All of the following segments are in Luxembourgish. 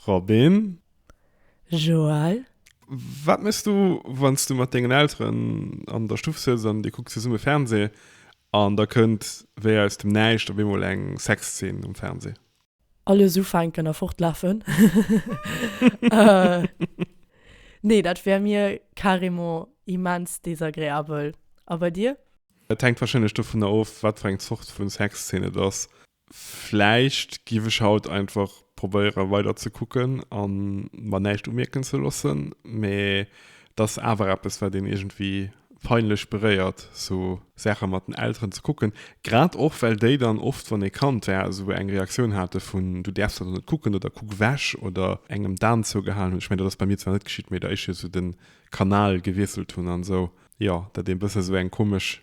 Robin. Joël. Wat méchs du, wann s du mat dengen Elteren an der Stuff sëtz an dir kuckt zesumme Fernseh an da kënnt wéi aus dem Näischt op eemol eng Sexzeen um Fernseh? Alles ufänken a fortlafen. Nee, dat wär mir carrément immens désagréabel. A bei dir? Et hänkt warscheinlech dovunner of, wat fir eng Zort vu Sexzeen et ass. Vläicht giff ech haut einfach probéieren weider ze kucken an mer näischt umierken ze loossen, mee et ass awer eppes wat een iergendwéi peinlech beréiert sou Saachen mat den Elteren ze kucken, grad och well déi dann oft wann ee Kand war sou eng Reaktioun haten vun du däerfs dat net kucken oder kuck wech oder engem d'Aan zougehalen hunn. Ech mengen dat ass bei mir zwar net geschitt mee datt ech jo sou den Kanal gewiesselt hunn an sou jo datt een bëssen sou eng komesch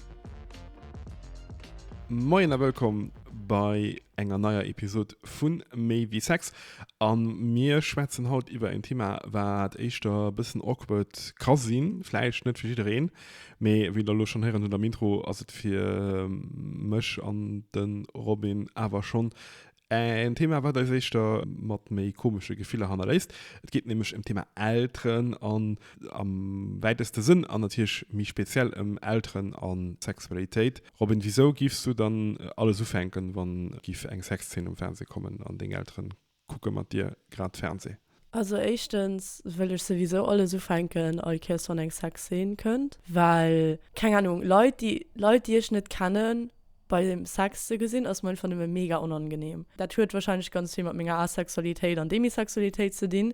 Moien a wëllkomm bei enger neier Episod vun méi wie Sex. An mir schwätzen haut iwwer en Thema, wat éischter e bëssen awkward ka sinn. Vläicht net fir jiddereen, mee wéi der elo schonn héieren hutt am Intro, ass et fir mech an de Robin awer schonn En Thema, wat eis éischter mat méi komesche Gefiller hannerléisst. Et geet nämlech ëm d'Thema Elteren an am wäiteste Sënn an natierlech méi speziell ëm Elteren a Sexualitéit. Robin, wisou giffs du dann alles ufänken, wann giff eng Sexzeen um Fernseh kommen an deng Elteren kucke mat dir grad Fernseh? Also éischtens wëll ech souwisou alles ufänken all Kéiers wann eng Sexscene kënnt, well keng Ahnung Leit déi Leit déi ech net kennen bei dem Sex ze gesinn ass mer einfach nëmme mega onangenehm. Dat huet wahrscheinlech ganz vill mat menger Asexualitéit an Demisexualitéit ze dinn,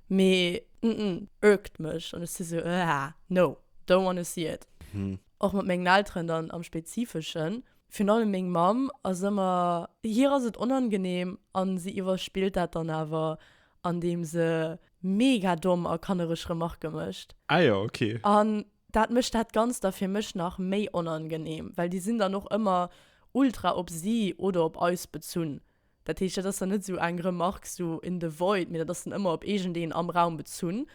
mee ërgt mech an ech si sou aah no, don't wanna see it. Och mat mengen Elteren dann am spezifeschen. Virun allem meng Mamm ass ëmmer, hir ass et onangenehm an si iwwerspillt dat dann awer andeem se mega domm a kannereg Remarke mécht. Ah jo, ok. An dat mécht dat Ganzt da fir mech nach méi onangenehm, well déi sinn dann och ëmmer ultra op si oder op eis bezunn. Dat heescht, dat ass dann net esou eng Remark esou in the void, mee dat ass dann ëmmer op iergendeen am Raum bezunn.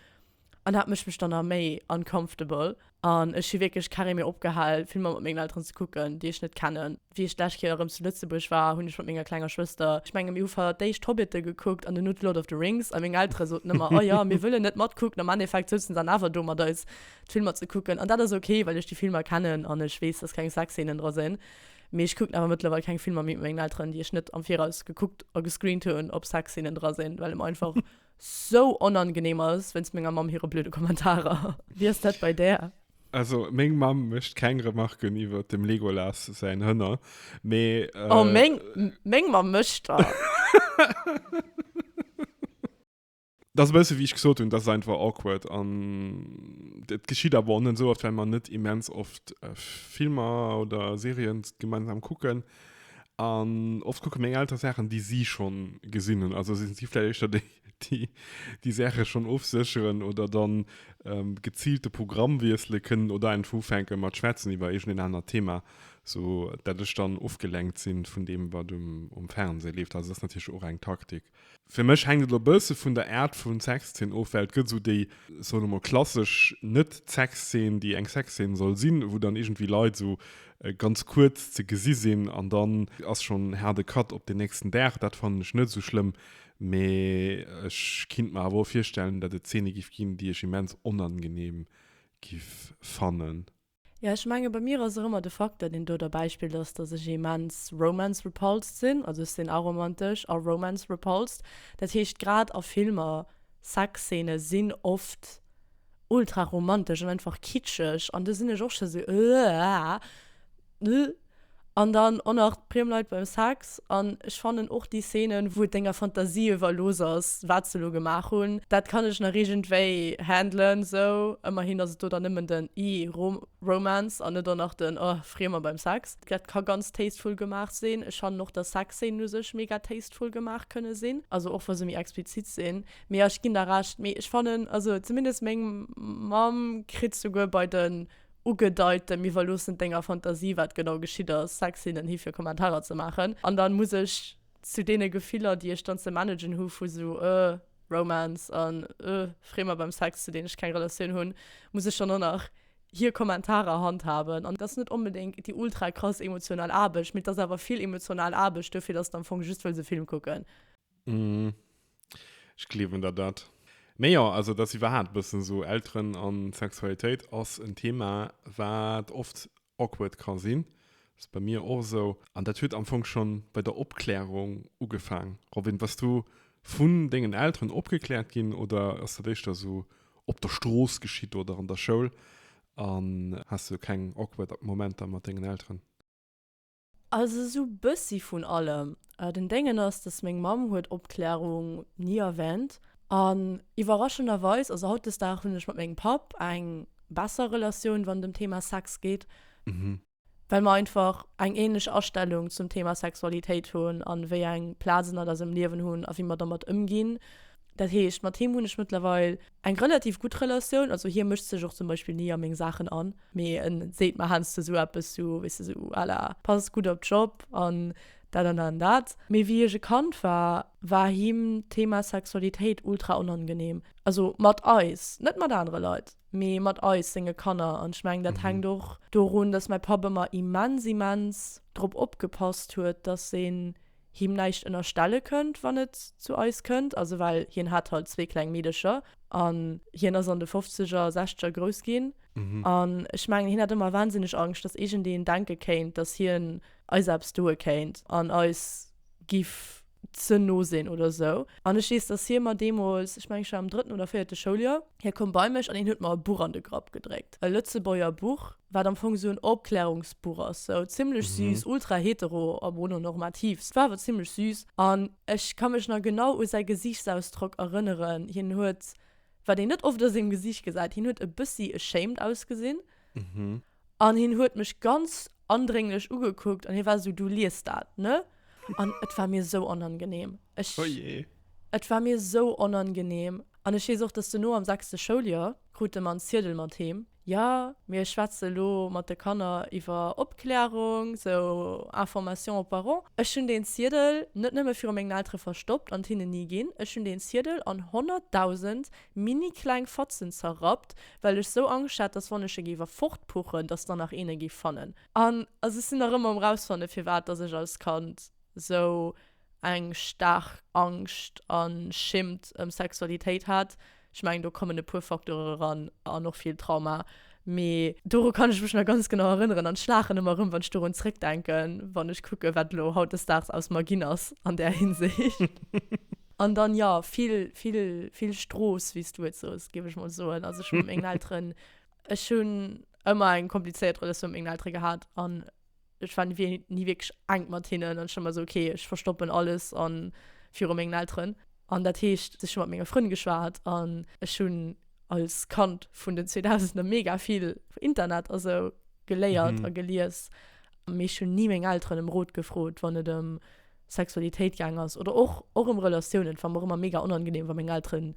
An dat mécht mech dann nach méi uncomfortable. An ech hu wierklech keng Ree méi opgehal, Filmer mat mengen Elteren ze kucken, déi ech net kennen. Wéi ech d'lescht Kéier erëm zu Lëtzebuerg war, hunn ech mat menger klenger Schwëster, ech menge mir hu feiert d'éischt Hobbite gekuckt an duerno d'Lord of the Rings, a meng Eltere soten ëmmer, Oh jo, mir wëllen net matkucken. Am Endeffekt souzen se dann awer do mat eis d'Filmer ze kucken. An dat ass ok, well ech déi Filmer kennen an ech weess, dass keng Sexszeenen dra sinn. Mee ech kucken awer mëttlerweil keng Filmer méi mat mengen Elteren, déi ech net am Viraus gekuckt a gescreent hunn, ob Sexszenen dra sinn, well et mer einfach sou onangeneem ass wéinst menger Mamm hire blöde Kommentarer. Wéi ass dat bei där? Also meng Mamm mécht keng Remarken iwwert dem Legolas säin Hënner, mee. Oh, meng Mamm mécht der! Dat ass e bësse wéi ech gesot hunn, dat ass einfach awkward an dat geschitt awer och net esou oft, well mer net immens oft Filmer oder Serien gemeinsam kucken. An oft kucke meng Elteren Saachen, déi si schonn gesinn hunn. Also si si vläicht éischter déi, déi déi Saache schonn ofsécheren oder dann geziilt de Programm wiessele kënnen oder einfach ufänke mat schwätzen iwwer iergend een anert Thema, sou dat ech dann ofgelenkt si vun deem, wat um Fernseh leeft. Also dat ass natierlech och eng Taktik. Fir mech hänkt et e bësse vun der Aart vu Sexzeen of, well et gëtt esou déi, soen emol, klassesch Net-Sexzeen, déi eng Sexzeen soll sinn, wou dann iergendwéi Leit esou ganz kuerz ze gesi sinn an dann ass schonn haarde Cut op den nächsten Dag. Dat fannen ech net esou schlëmm, mee ech kinnt mer awer och virstellen, datt et Zeene giff ginn, déi ech immens onangeneem giff fannen. Ja, ech menge bei mir ass och ëmmer de Facteur, deen do derbäi spillt, ass, dass ech immens romance-repulsed sinn. Also ech sinn aromantesch a romance-repulsed. Dat heescht, grad a Filmer, Sexszeene sinn oft ultra-romantesch an einfach kitscheg an do sinn ech och scho sou, Ëaah, ëh. An dann och nach d'Priemleit beim Sex. An ech fannen och déi Szenen, wou et denger Fantasie iwwerlooss ass, wat se elo gemaach hunn, dat kann ech nach iergendwéi handlen esou. Ëmmerhin ass et do dann nëmmen den Ih, Romance an net och nach den Ohh, Friemer beim Sex. Dat ka ganz tasteful gemaach sinn. Ech fannen och, dass Sexszenen u sech mega tasteful gemaach kënne sinn, also och wa se méi explizit sinn. Mee ja, ech ginn der Recht. Mee ech fannen, also zumindest meng Mamm kritt souguer bei de. Ugedeit, dem iwwerloossen denger Fantasie wat genau geschitt ass, Sexszenen hi fir Kommentarer ze maachen, an dann muss ech zu deene Gefiller déi ech dann ze managen hu vu sou euh Romance an euh Freemer beim Sex zu deenen ech keng Relatioun hunn, muss ech dann och nach hier Kommentarer handhaben an et ass net onbedéngt déi ultra krass emotional Aarbecht, mee et ass awer vill emotional Aarbecht dofir dass de am Fong just wëlls e Film kucken. Mhm. Ech gleewen der dat. Mee jo, also et ass iwwerhaapt e bëssen esou, Elteren a Sexualitéit ass en Thema, wat oft awkward ka sinn. Ass bei mir och esou. An dat huet am Fong schonn bei der Opklärung ugefaang. Robin, bass du vun dengen Elteren opgekläert ginn oder ass dat éischter esou op der Strooss geschitt oder an der Schoul? An has du keng awkward Momenter mat dengen Elteren? Also sou bessi vun allem. Den Dengen ass dass meng Mamm huet Opklärung ni erwänt an iwwerraschenderweis, also hautdesdag hunn ech mat mengem Papp eng besser Relatioun wann dem Thema Sex geet, well mer einfach eng ähnlech Astellung zum Thema Sexualitéit hunn an wéi eng Plaz en at eisem Liewen hunn a wéi mer dermat ëmginn. Dat heescht mat him hunn ech mëttlerweil Eng relativ gutt Relatioun, also hie mëscht sech och zum Beispill ni a meng Saachen an, mee en seet mer heiansdo esou eppes sou, weess de, sou à la pass gutt op d'Job an dat an dat an dat. Mee wéi ech e Kand war, war him d'Thema Sexualitéit ultra onangeneem, also mat eis, net mat anere Leit, mee mat eis, senge Kanner. An ech mengen, dat hänkt och dorun, dass mäi Papp ëmmer immens, immens drop opgepasst huet, dass een him näischt ënnerstelle kënnt, wann et zu eis kënnt. Also well hien hat halt zwee kleng Meedercher an hien ass an de Fofzeger, Sechzeger grouss ginn. An ech mengen, hien hat ëmmer wahnsinneg Angscht, dass iergendeen denke kéint, dass hien eis eppes doe kéint an eis giff ze no sinn oder esou. An ech weess, dass hie mer deemools, ech mengen, ech war am drëtten oder véierte Schouljoer, hie koum bei mech an hien huet mer e Buch an de Grapp gedréckt, e Lëtzebuerger Buch, wat am Fong sou en Opklärungsbuch ass, sou zimlech süß, ultra hetero a mononormativ, s war awer zimlech süß an ech ka mech nach genau u säi Gesichtsausdrock erënneren, hien huet, wat een net oft a sengem Gesicht gesäit, hien huet e bëssi ashamed ausgesinn an hien huet mech ganz andrénglech ugekuckt an hie war sou, du lies dat, ne? An et war mir sou onangenehm, ech, et war mir sou onangenehm an ech weess och, dass dono am sechste Schouljoer krut de mer en Ziedel mat heem. Jo, mir schwätze lo mat de Kanner iwwer Opklärung, sou Information aux parents. Ech hunn deen Ziedel net nëmme viru mengen Eltere verstoppt an hinnen ni ginn, ech hunn deen Ziedel an honnertdausend mini-kleng Fatzen zerrappt, well ech sou Angscht hat, dass wann ech e géif erfortpuchen, dass der nach een e géif fannen. An also ech sinn nach ëmmer um Rausfanne firwat dass ech als Kand sou. eng staark Angscht a Schimmt ëm Sexualitéit hat. Ech mengen, do kommen e puer Facteure eran an och vill Trauma. Mee doru kann ech mech nach ganz genau erënneren an ech laachen ëmmer erëm, wann ech dorun zrëckdenken, wann ech kucken, wat elo hautdesdaags aus mer ginn ass an där Hinsicht. An dann, jo, vill, vill, vill Strooss, wéi s du et sos, géif ech mol soen. Also ech hu mat mengen Elteren, ech hunn ëmmer eng komplizéiert Relatioun mat mengen Eltere gehat an. ech war nie wirklich enk mat hinnen an schon mal so okay ech verstoppen alles an virum mengen Elteren an dat heescht sech mat menge Frënn geschwaart an ech hunn als Kand vun den 2000 mega vill Internet a sou geléiert a gelies mee schon nie meng Elteren em Rot gefrot wann et em Sexualitéit gaang ass oder och och em Relatiounen war mer ëmmer mega onangenehm wa meng Elteren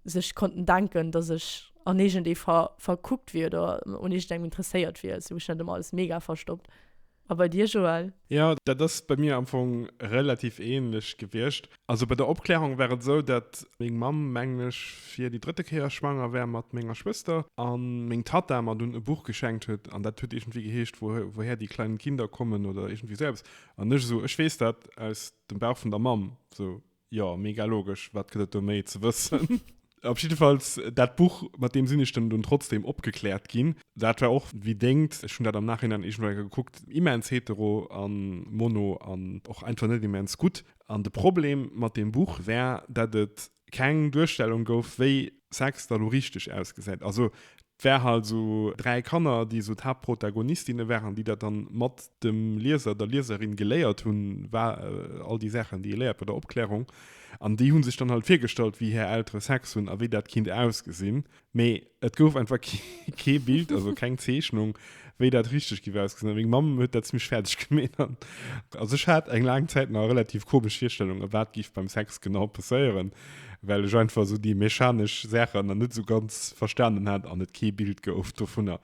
sech konnten denken, dass ech an iergend ee ver, verkuckt wier oder un iergend engem interesséiert wier. Sou hu ech dat ëmmer alles mega verstoppt. A bei dir, Joël? Jo, dat ass bei mir am Fong relativ ähnlech gewiescht. Also bei der Opklärung war et esou, dat meng Mamm, mengen ech, fir déi drëtte Kéier schwanger war mat menger Schwëster a meng Tatta mer dunn e Buch geschenkt huet an dat huet iergendwéi geheescht Wo, woher die kleinen Kinder kommen oder iergendwéi sou eppes an ech esou, ech weess dat aus dem Bauch vun der Mamm, sou. Jo, mega logesch. Wat gëtt et do méi ze wëssen? Op jiddefalls dat Buch, mat deem sinn ech dann dunn trotzdeem opgekläert ginn. Dat war och wéi dengt, ech hunn dat am Nachhinein iergendwou eng Kéier gekuckt, immens hetero a mono an och einfach net immens gutt. An de Problem mat deem Buch war, dat et keng Duerstellung gouf, wéi Sex da lo richteg ausgesäit. Also 't wär halt sou 3 Kanner déi sou d'Haaptprotagonistinne waren, déi dat dann mat dem Lieser, der Lieserin geléiert hunn, war all déi Saachen déi ee léiert bei der Opklärung, an déi hunn sech dann halt virgestallt wéi hir Eltere Sex hunn a wéi dat kinnt ausgesinn, mee et gouf einfach kee Bild, also keng Zeechnung wéi dat richteg giff ausgesinn, a meng Mamm huet dat zimmlech fäerdeg gemeet, an also ech hat eng laang Zäit nach relativ komesch Virstellungen wat giff beim Sex genau passéieren. well ech einfach esou déi mechanesch Saachen nach net esou ganz verstanen hat an et kee Bild gouf dovunner.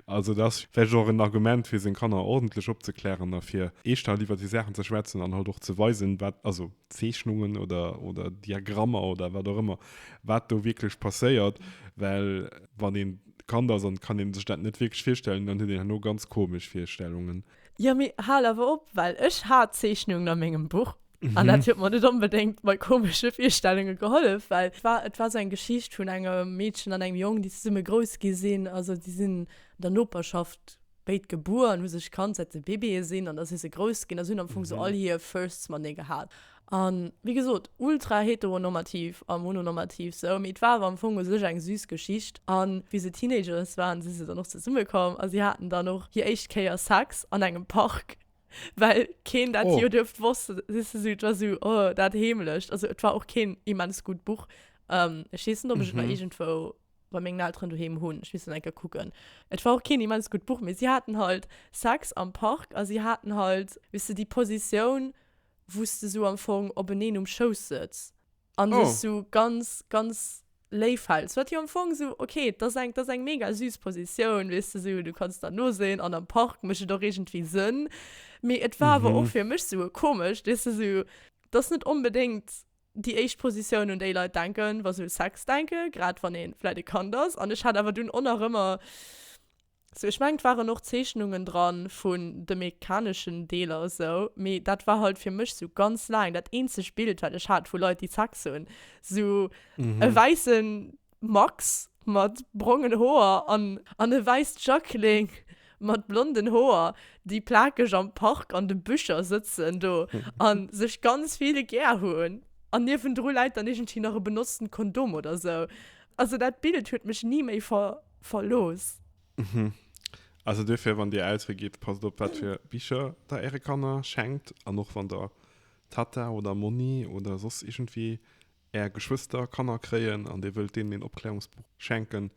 Also dat ass vläicht och en Argument, fir seng Kanner ordentlech opzeklären a fir eeschter iwwert déi Saachen ze schwätzen an halt och ze weisen, wat, also Zeechnungen oder, oder Diagrammer oder wat och ëmmer, wat do wierklech passéiert, well wann een Kand ass an et kann ee sech dat net wierklech virstellen, dann huet een herno ganz komesch Virstellungen. Ja, mee hal awer op, well ech hat Zeechnungen a mengem Buch mhm. an dat huet mir net onbedéngt bei komesche Virstellunge gehollef, well et war, et war so eng Geschicht vun engem Meedchen an engem Jong, déi zesumme grouss gi sinn. Also déi sinn an der Noperschaft béid gebuer an hu sech kannt, säit se Bébéë sinn an da si se grouss ginn a si hunn am Fong mhm. so all hir Firsts matenee gehat. An, wéi gesot, ultra heteronormativ a mononormativ sou, mee et war awer am Fong u sech eng süß Geschicht. An, wéi se Teenagers waren, si se dann och zesumme komm a si haten dann och hir éischt Kéier Sex an engem Park, well keen dat jo duerft wossten. Et ass esou, et war esou, oh, dat heemlecht. Also et war och keen immens gutt Buch. Ech weess net, ob ech et nach iergendwou bei mengen Elteren doheem hunn. Ech misst dat eng Kéier kucken. Et war och keen immens gutt Buch, mee si haten halt Sex am Park a si haten halt, weess de, déi Positioun wou s de sou am Fong openeen um Schouss sëtz an dech oh. sou ganz, ganz léif häls. Wat jo am Fong sou, okay, dat ass eng, dat ass eng mega süß Positioun, weess de sou, du kanns der noséien an am Park mécht et och iergendwéi Sënn. Mee et war awer mhm. och fir mech sou e komescht, weess de sou, dat ass net onbedéngt déi éischt Positioun, un déi Leit denken, wa se u Sex denken, grad wann ee vläit e Kand ass. An ech hat awer dunn och nach ëmmer Sou ech mengen et waren och Zeechnungen dran vun de mekaneschen Deeler esou, mee dat war halt fir mech sou ganz laang dat eenzegt Bild wat ech hat vu Leit déi Sex hunn. Sou e wäissen Max mat brongen Hoer an e wäisst Jacqueline mat blonden Hoer déi plakeg am Park an de Büscher sëtzen do an sech ganz vill gär hunn an niewendru läit dann iergendwéi nach e benotzten Kondom oder sou. Also dat Bild huet mech ni méi verlooss. Also duerfir, wann Dir Eltere gitt, passt op, wat fir Bicher Der Äre Kanner schenkt. An och wann Der Tata oder Monni oder soss iergendwéi Är Geschwëster, Kanner kréien an Dir wëllt deenen een Opklärungsbuch schenken,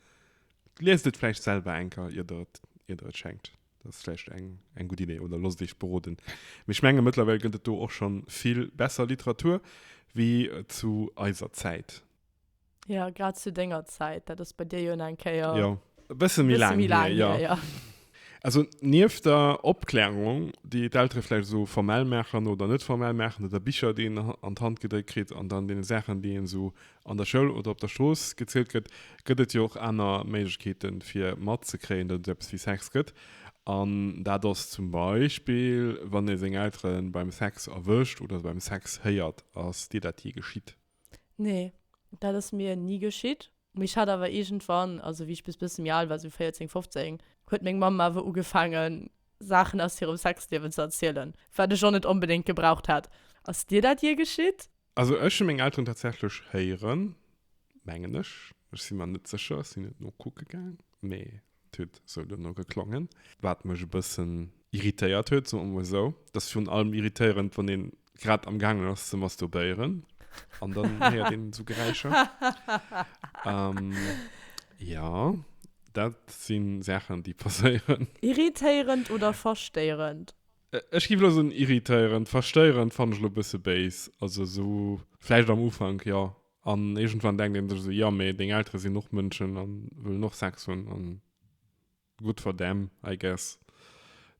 liest et vläicht selwer eng Kéier, ier Der et schenkt. Dat ass vläicht eng gutt Idee. Oder loosst Iech beroden. Mee ech menge mëttlerweil gëtt et do och scho vill besser Literatur wéi zu eiser Zäit. Ja, grad zu denger Zäit. Dat ass bei dir jo eng Kéier. Jo, e bësse méi laang hier, jo. Hier, ja. Also nieft der Opklärung, déi d'Eltere vläicht esou formell maachen oder net formell maachen, oder Bicher, déi een an d'Hand gedréckt kritt, an dann deene Saachen, déi een esou an der Schoul oder op der Strooss gezielt gëtt, gëtt et jo och aner Méiglechkeete fir matzekréien, datt et eppes wéi Sex gëtt. An dat ass zum Beispill, wann ee seng Eltere beim Sex erwëscht oder se beim Sex héiert. Ass dir dat jee geschitt? Nee, dat ass mir ni geschitt. Mee ech hat awer iergendwann, also wéi ech bis bësse méi al war, sou 14, 15, huet meng Mamm awer ugefaange Saachen aus hirem Sexliewen ze erzielen, wat ech och net onbedéngt gebraucht hätt. Ass dir dat jee geschitt? Also ech hu meng Elteren tatsächlech héieren, mengen ech, ech si mer net sécher, ech sinn net nokucke gaang, mee Et huet esou duerno geklongen. Wat mech e bëssen irritéiert huet, soe mer esou. Et ass virun allem irritéierend, wann een grad amgaangen ass ze masturbéieren an dann héiert een esou Geräischer. Jo, dat si Saachen, déi passéieren. Irritéierend oder verstéierend? Ech géif elo soen irritéierend. Verstéierend fannen ech elo e bësse béis. Also esou vläicht am Ufank, jo. An iergendwann denkt een sech esou, jo, mee deng Eltere sinn och Mënschen a wëllen och Sex hunn a good for them, I guess,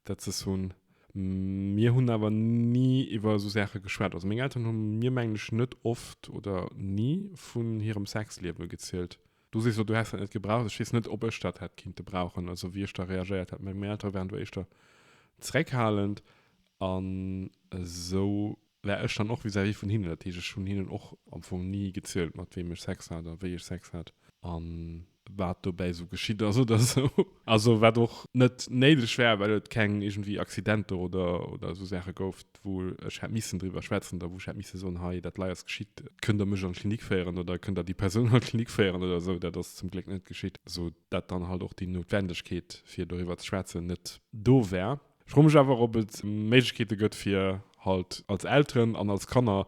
dat se s'hunn. Mir hunn awer ni iwwer esou Saache geschwat. Also meng Elteren hu mir, mengen ech, net oft oder ni vun hirem Sexliewe gezielt. Du sees elo, du häss dat net gebraucht. Ech weess net, ob ech dat hätt kinnte brauchen, also wéi ech da reagéiert hätt. Mä meng Eltere waren do éischter zeréckhalend an esou. War ech dann och vis-à-vis vun hinnen, dat heescht ech hunn hinnen och am Fong ni gezielt mat weem ech Sex hat a wéi ech Sex hat a wat dobäi esou geschitt ass oder esou. Also wat och net néideg war, well et keng iergendwéi Accidenter oder esou Saache gouf, wou ech hätt missen driwwer schwätzen oder wou ech hätt misse soen, hei dat lei ass geschitt, kënnt der mech an d'Klinik féieren oder kënnt der déi Persoun an d'Klinik féieren oder esou. Dat ass zum Gléck net geschitt, esou dat dann halt och déi Noutwendegkeet fir doriwwer ze schwätzen net do war. Ech froe mech awer, ob et Méiglechkeete gëtt, fir halt als Elteren an als Kanner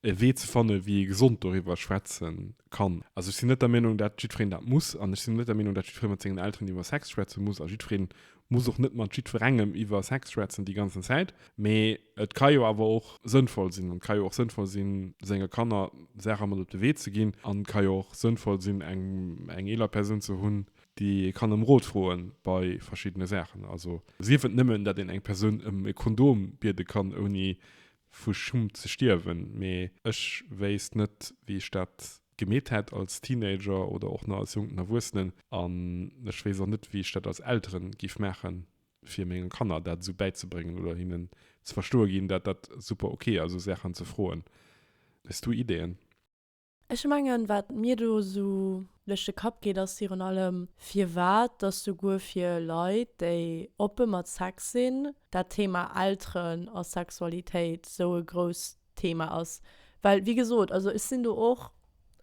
e Wee ze fannen, wéi ee gesond doriwwer schwätze kann. Also ech sinn net der Meenung, dat jiddwereen dat muss. An ech sinn och net der Meenung, dat jiddweree mat sengen Elteren iwwer Sex schwätze muss. A jiddweree muss och net mat jiddwerengem iwwer Sex schwätzen déi ganzen Zäit. Mee et ka jo awer och sënnvoll sinn. An et ka jo och sënnvoll sinn, senge Kanner Saache mat op de Wee ze ginn. An et ka jo och sënnvoll sinn, eng eeler Persoun ze hunn, déi ee kann ëm Rot froe bei verschiddene Saachen, also sief et nëmmen, datt een eng Persoun ëm e Kondom biede kann, ouni vu Schumm ze stierwen. Mee ech wéisst net, wéi ech dat gemeet hätt als Teenager oder och nach als jonken Erwuessenen. An ech weess och net, wéi ech dat als Eltere géif maachen, fir menge Kanner dat esou bäizebréngen oder hinnen ze verstoe ginn, datt dat super ok ass, esou Saachen ze froen. Hues du Ideeën? Ech mengen, wat mir do esou duerch de Kapp geet, ass virun allem, firwat dass souguer fir Leit, déi oppe mat Sex sinn, dat Thema Elteren a Sexualitéit esou e grousst Thema ass. Well, wéi gesot, also ech sinn do och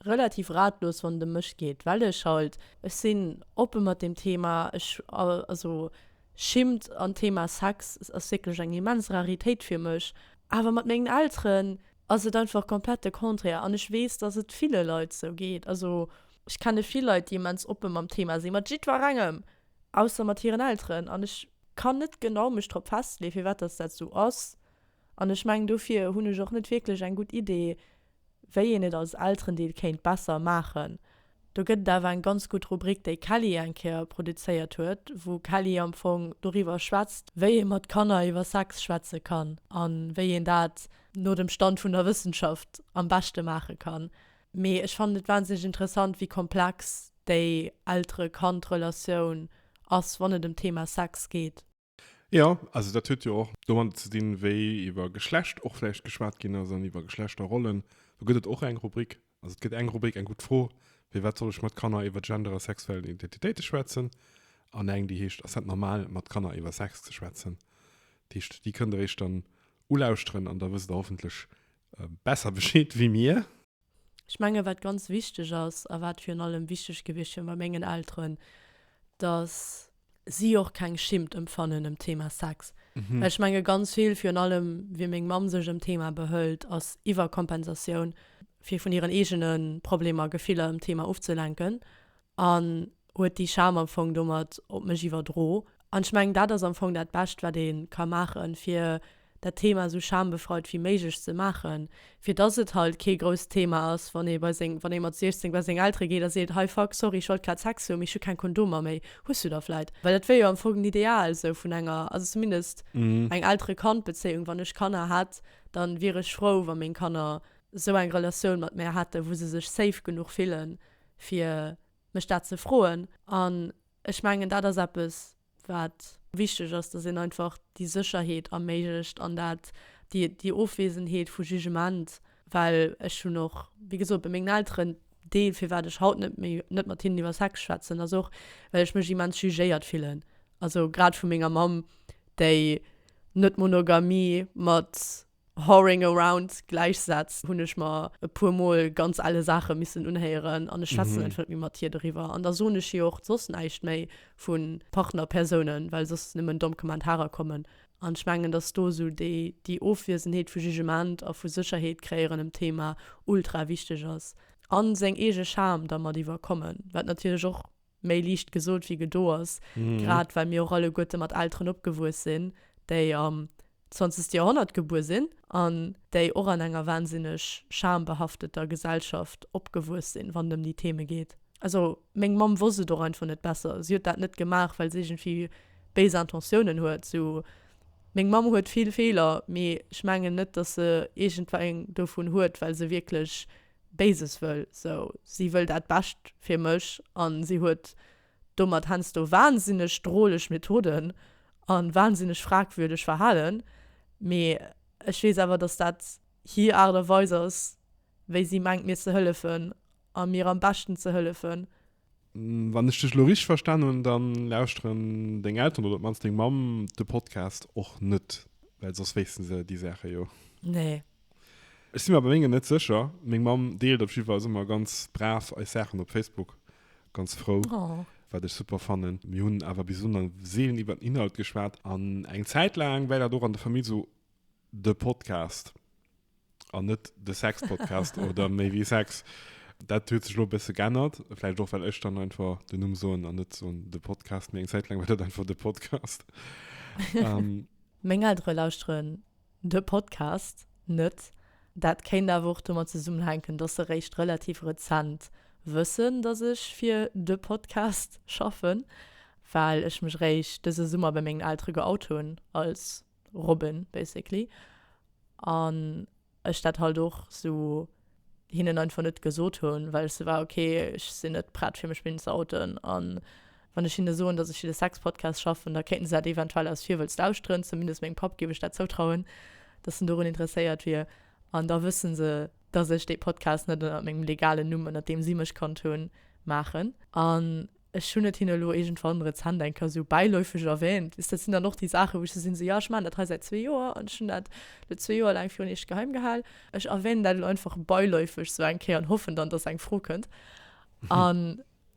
relativ ratlos, wann et ëm mech geet, well ech halt, ech sinn oppe mat deem Thema, ech, also schimmt an d'Thema Sex ass wierklech eng immens Raritéit fir mech, awer mat mengen Elteren, ass et einfach komplett de Contraire. An ech weess, dass et ville Leit esou geet. Also ech kenne vill Leit, déi immens oppe mam Thema sinn, mat jiddwerengem, ausser mat hiren Elteren. An ech kann net genau mech drop festleeën, firwat dass dat esou ass. An ech mengen, dofir hunn ech och net wierklech eng gutt Idee, wéi een et als Elterendeel kéint besser maachen. Do gëtt et awer eng ganz gutt Rubrik, déi Kelly eng Kéier produzéiert huet, wou Kelly am Fong doriwwer schwätzt, wéi ee mat Kanner iwwer Sex schwätze kann a wéi een dat no dem Stand vun der Wëssenschaft am beschte maache kann. Mee ech fannen et wahnsinneg interessant, wéi komplex déi Eltere-Kand-Relatioun ass, wann et ëm d'Thema Sex geet. Jo, also dat huet jo och domadder ze dinn, wéi iwwer Geschlecht och vläicht geschwat ginn ass an iwwer Geschlechterrollen. Do gëtt et och eng Rubrik, also et gëtt eng Rubrik, eng gutt Fro, Firwat soll ech mat Kanner iwwer Gender a sexuell Identitéite schwätzen? an eng, déi heescht Ass dat normal, mat Kanner iwwer Sex ze schwätzen? Dat heescht, déi kënnt Der Iech dann ulauschteren an da wësst Der hoffentlech besser Bescheed wéi mir. Ech mengen, wat ganz wichteg ass a wat virun allem wichteg gewiescht wier bei mengen Elteren, dass si och keng Schimmt empfannen ëm d'Thema Sex. Well ech menge ganz vill, virun allem wéi meng Mamm sech ëm d'Thema behëlt, ass Iwwerkompensatioun, fir vun hiren eegene Problemer, Gefiller ëm d'Thema ofzelenken. an huet déi Scham am Fong domat op mech iwwerdro. An ech mengen, dat ass am Fong dat Bescht, wat ee ka maachen, fir dat Thema esou schambefreit wéi méiglech ze maachen, fir dass et halt kee grousst Thema ass, wann ee bei seng, wann ee mat 16 bei seng Eltere geet a seet, hei fuck, sorry, ech wollt grad Sex hu, mee ech hu keng Kondomer méi, hues du der vläit? Well dat wier jo am Fong den Ideal esou vun enger, also zumindest eng Eltere-Kand-Bezéiung, wann ech Kanner hätt, da wier ech frou, wa meng Kanner esou eng Relatioun mat mär hätten, wou se sech safe genuch fillen, fir mech dat ze froen. An ech mengen, dat ass eppes, wat wichteg ass, dass een einfach déi Sécherheet erméiglecht an dat, déi, déi Ofwesenheet vu Jugement. Well ech hunn och, wéi gesot, bei mengen Elteren, dee firwat ech haut net méi, net mat hinnen iwwer Sex schwätzen, ass och, well ech mech immens jugéiert fillen. Also grad vu menger Mamm, déi net Monogamie mat Whoring around, Gläichsätz, hunn ech mer e puer Mol ganz elle Saache missen unhéieren an ech schwätzen einfach net méi mat hir doriwwer. An da soen ech hir och soss näischt méi vu Partnerpersounen, well soss nëmmen domm Kommentarer kommen. An ech mengen, dass do esou déi Ofwiesenheet vu Jugement a vu Sécherheet kréieren ëm d'Thema ultra wichteg ass. A seng eege Charme dermat iwwerkommen, wat natierlech och méi liicht gesot wéi gedo ass, grad well mir och alleguerte mat Elteren opgewuess sinn, déi am zwanzegste Joerhonnert gebuer sinn an déi och an enger wahnsinneg schambehafteter Gesellschaft opgewuess sinn, wann et ëm déi Theme geet. Also meng Mamm wosst et och einfach net besser. Si huet dat net gemaach, well se iergendwéi béis Intentiounen huet. Sou, meng Mamm huet vill Feeler, mee ech mengen net, dass se iergendwéi eng dovun huet, well se wierklech Béises wëll, sou, si wëll dat Bescht fir mech an si huet domat hensdo wahnsinneg droleg Methoden an wahnsinneg fragwürdeg Verhalen, mee ech wees awer dass dat hier Art a Weis ass wéi si mengt mir ze hëllefen a mir am Beschten ze hëllefen. Wann ech dech lo richteg verstan hun dann lauschteren deng Elteren oder op mannst deng Mamm de Podcast och net, well soss wéissten se déi Saachen jo. Nee. Ech sin mer bei mengen net secher, meng Mamm deelt op jidde Fall ëmmer ganz brav eis Saachen op Facebook, ganz frou. Oh. Wat ech super fannen. Mir hun awer bis elo nach seelen iwwert den Inhalt geschwat an eng Zäit laang war dat och an der Famill sou De Podcast an net de Sexpodcast oder méi wéi Sex. Dat huet sech lo bësse g'ännert. Vläicht och well ech dann einfach den Numm soen an net soen de Podcast, mee eng Zäit laang war dat einfach de Podcast. ähm, Meng Eltere lauschteren de Podcast net. Dat kéint awer och domat zesummenhänken, dass se réischt relativ rezent wëssen, dass ech fir de Podcast schaffen, well ech mech réischt dëse Summer bei mengen Eltere geout hunn als Robben basically an ech dat halt och sou hinnen einfach net gesot hunn well ech sou war ok ech sinn net prett fir mech missen ze outen an wann ech hinne soen dass ech fir de Sexpodcast schaffen da kéinten se dat eventuell aus Virwëlz lauschteren, zumindest mengem Papp géif ech dat zoutrauen dass en dorun interesséiert wier an da wëssen se dass ech dee Podcast net ënnert mengem legalen Numm ënnert deem si mech kannt hunn maachen an Ech hunn et hinne elo iergendwann rezent eng Kéier esou bäiläufeg erwähnt. Wisst, dat sinn dann och déi Saachen, wou ech esou sinn, esou, jo, ech maachen dat hei säit zwee Joer an ech hunn dat elo zwee Joer laang virun iech geheim gehal. Ech erwähnen dat elo einfach bäiläufeg esou eng Kéier an hoffen dann, dass eng Fro kënnt. A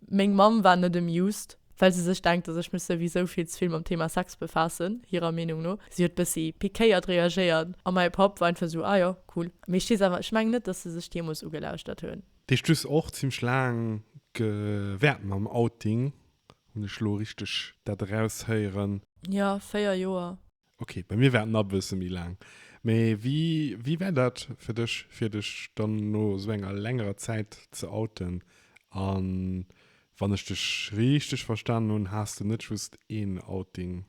meng Mamm war net amused, well se sech denkt, dass ech mech souwisou vill ze vill mam Thema Sex befaassen, hirer Meenung no. Si huet bëssi pikéiert reagéiert a mäi Papp war einfach esou, ah jo, cool. Mee ech weess awer, ech mengen net, dass se sech deemools ugelauschtert hunn. Dech dues och zimlech laang gewert mam Outing, hun ech lo richteg dat eraus héieren? Jo, 4 Joer. Ok, bei mir war et na bësse méi laang. Mee wéi war dat fir dech fir dech dann no sou enger längerer Zäit ze outen? An wann ech dech richteg verstanen hun, has de net just een Outing?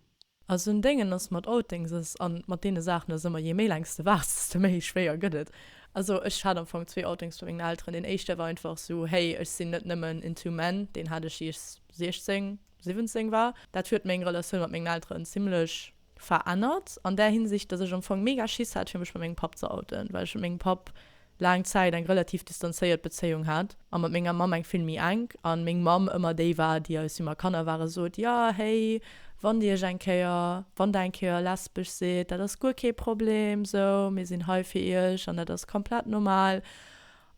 A so'n Déngen ass mat Outings ass, an mat deene Saachen ass ëmmer, je méi laang s de waarts, desto méi schwéier gëtt et. Also ech hat am Fong zwee Outings bei mengen Elteren. Deen éischte war einfach sou, hey, ech sinn net nëmmen into men. Deen hat ech ier ech 16, 17 war. Dat huet meng Relatioun mat mengen Elteren zimlech verännert an där Hinsicht, dass ech am Fong mega Schiss hat fir mech bei mengem Papp ze outen, well ech mengem Papp laang Zäit eng relativ distanzéiert Bezéiung hat a mat menger Mamm eng vill méi enk, an meng Mamm ëmmer déi war, déi eis, wéi mer Kanner waren, sot, ja héi, wann dir iech eng Kéier, wann der eng Kéier lesbesch sidd, dat ass guer kee Problem, sou, mir sinn hei fir iech an dat ass komplett normal.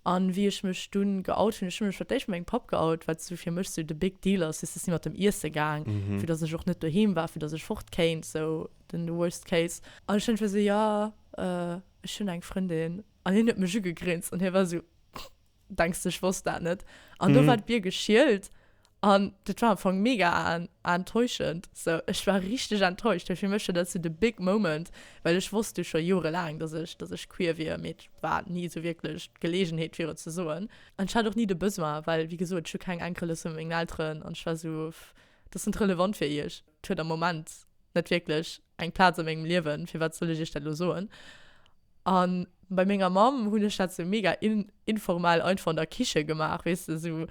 An wéi ech mech dunn geout hunn, ech hunn mech fir d'éischt mengem Papp geout, wat sou fir mech sou de big deal ass, siess, ech sinn mat em iesse gaang, vu dass ech och net doheem war, vu dass ech fort kéint, sou den worst case, an ech hunn ëngeféier sou, jo. Ech hunn eng Frëndin, an hien huet mech ugegrinst an hie war esou, Denks de ech wosst dat net? An do war d'Bier geschielt an dat war am Fong mega enttäuschend. So ech war richteg enttäuscht, well fir mech war dat esou de big moment, well ech wosst jo scho jorelaang, datt ech datt ech queer wier, mee et war ni esou wierklech d'Geleegenheet fir et ze soen. An ech hat och ni de Besoin, well wéi gesot, ech hu keng Enkel, ech sou meng Elteren an ech war esou, dat ass net relevant fir iech. Et huet am Moment net wierklech eng Plaz a mengem Liewen, firwat soll ech iech dat elo soen? An bei menger Mamm hunn ech dat sou mega informell einfach an der Kiche gemaach, weess de, sou.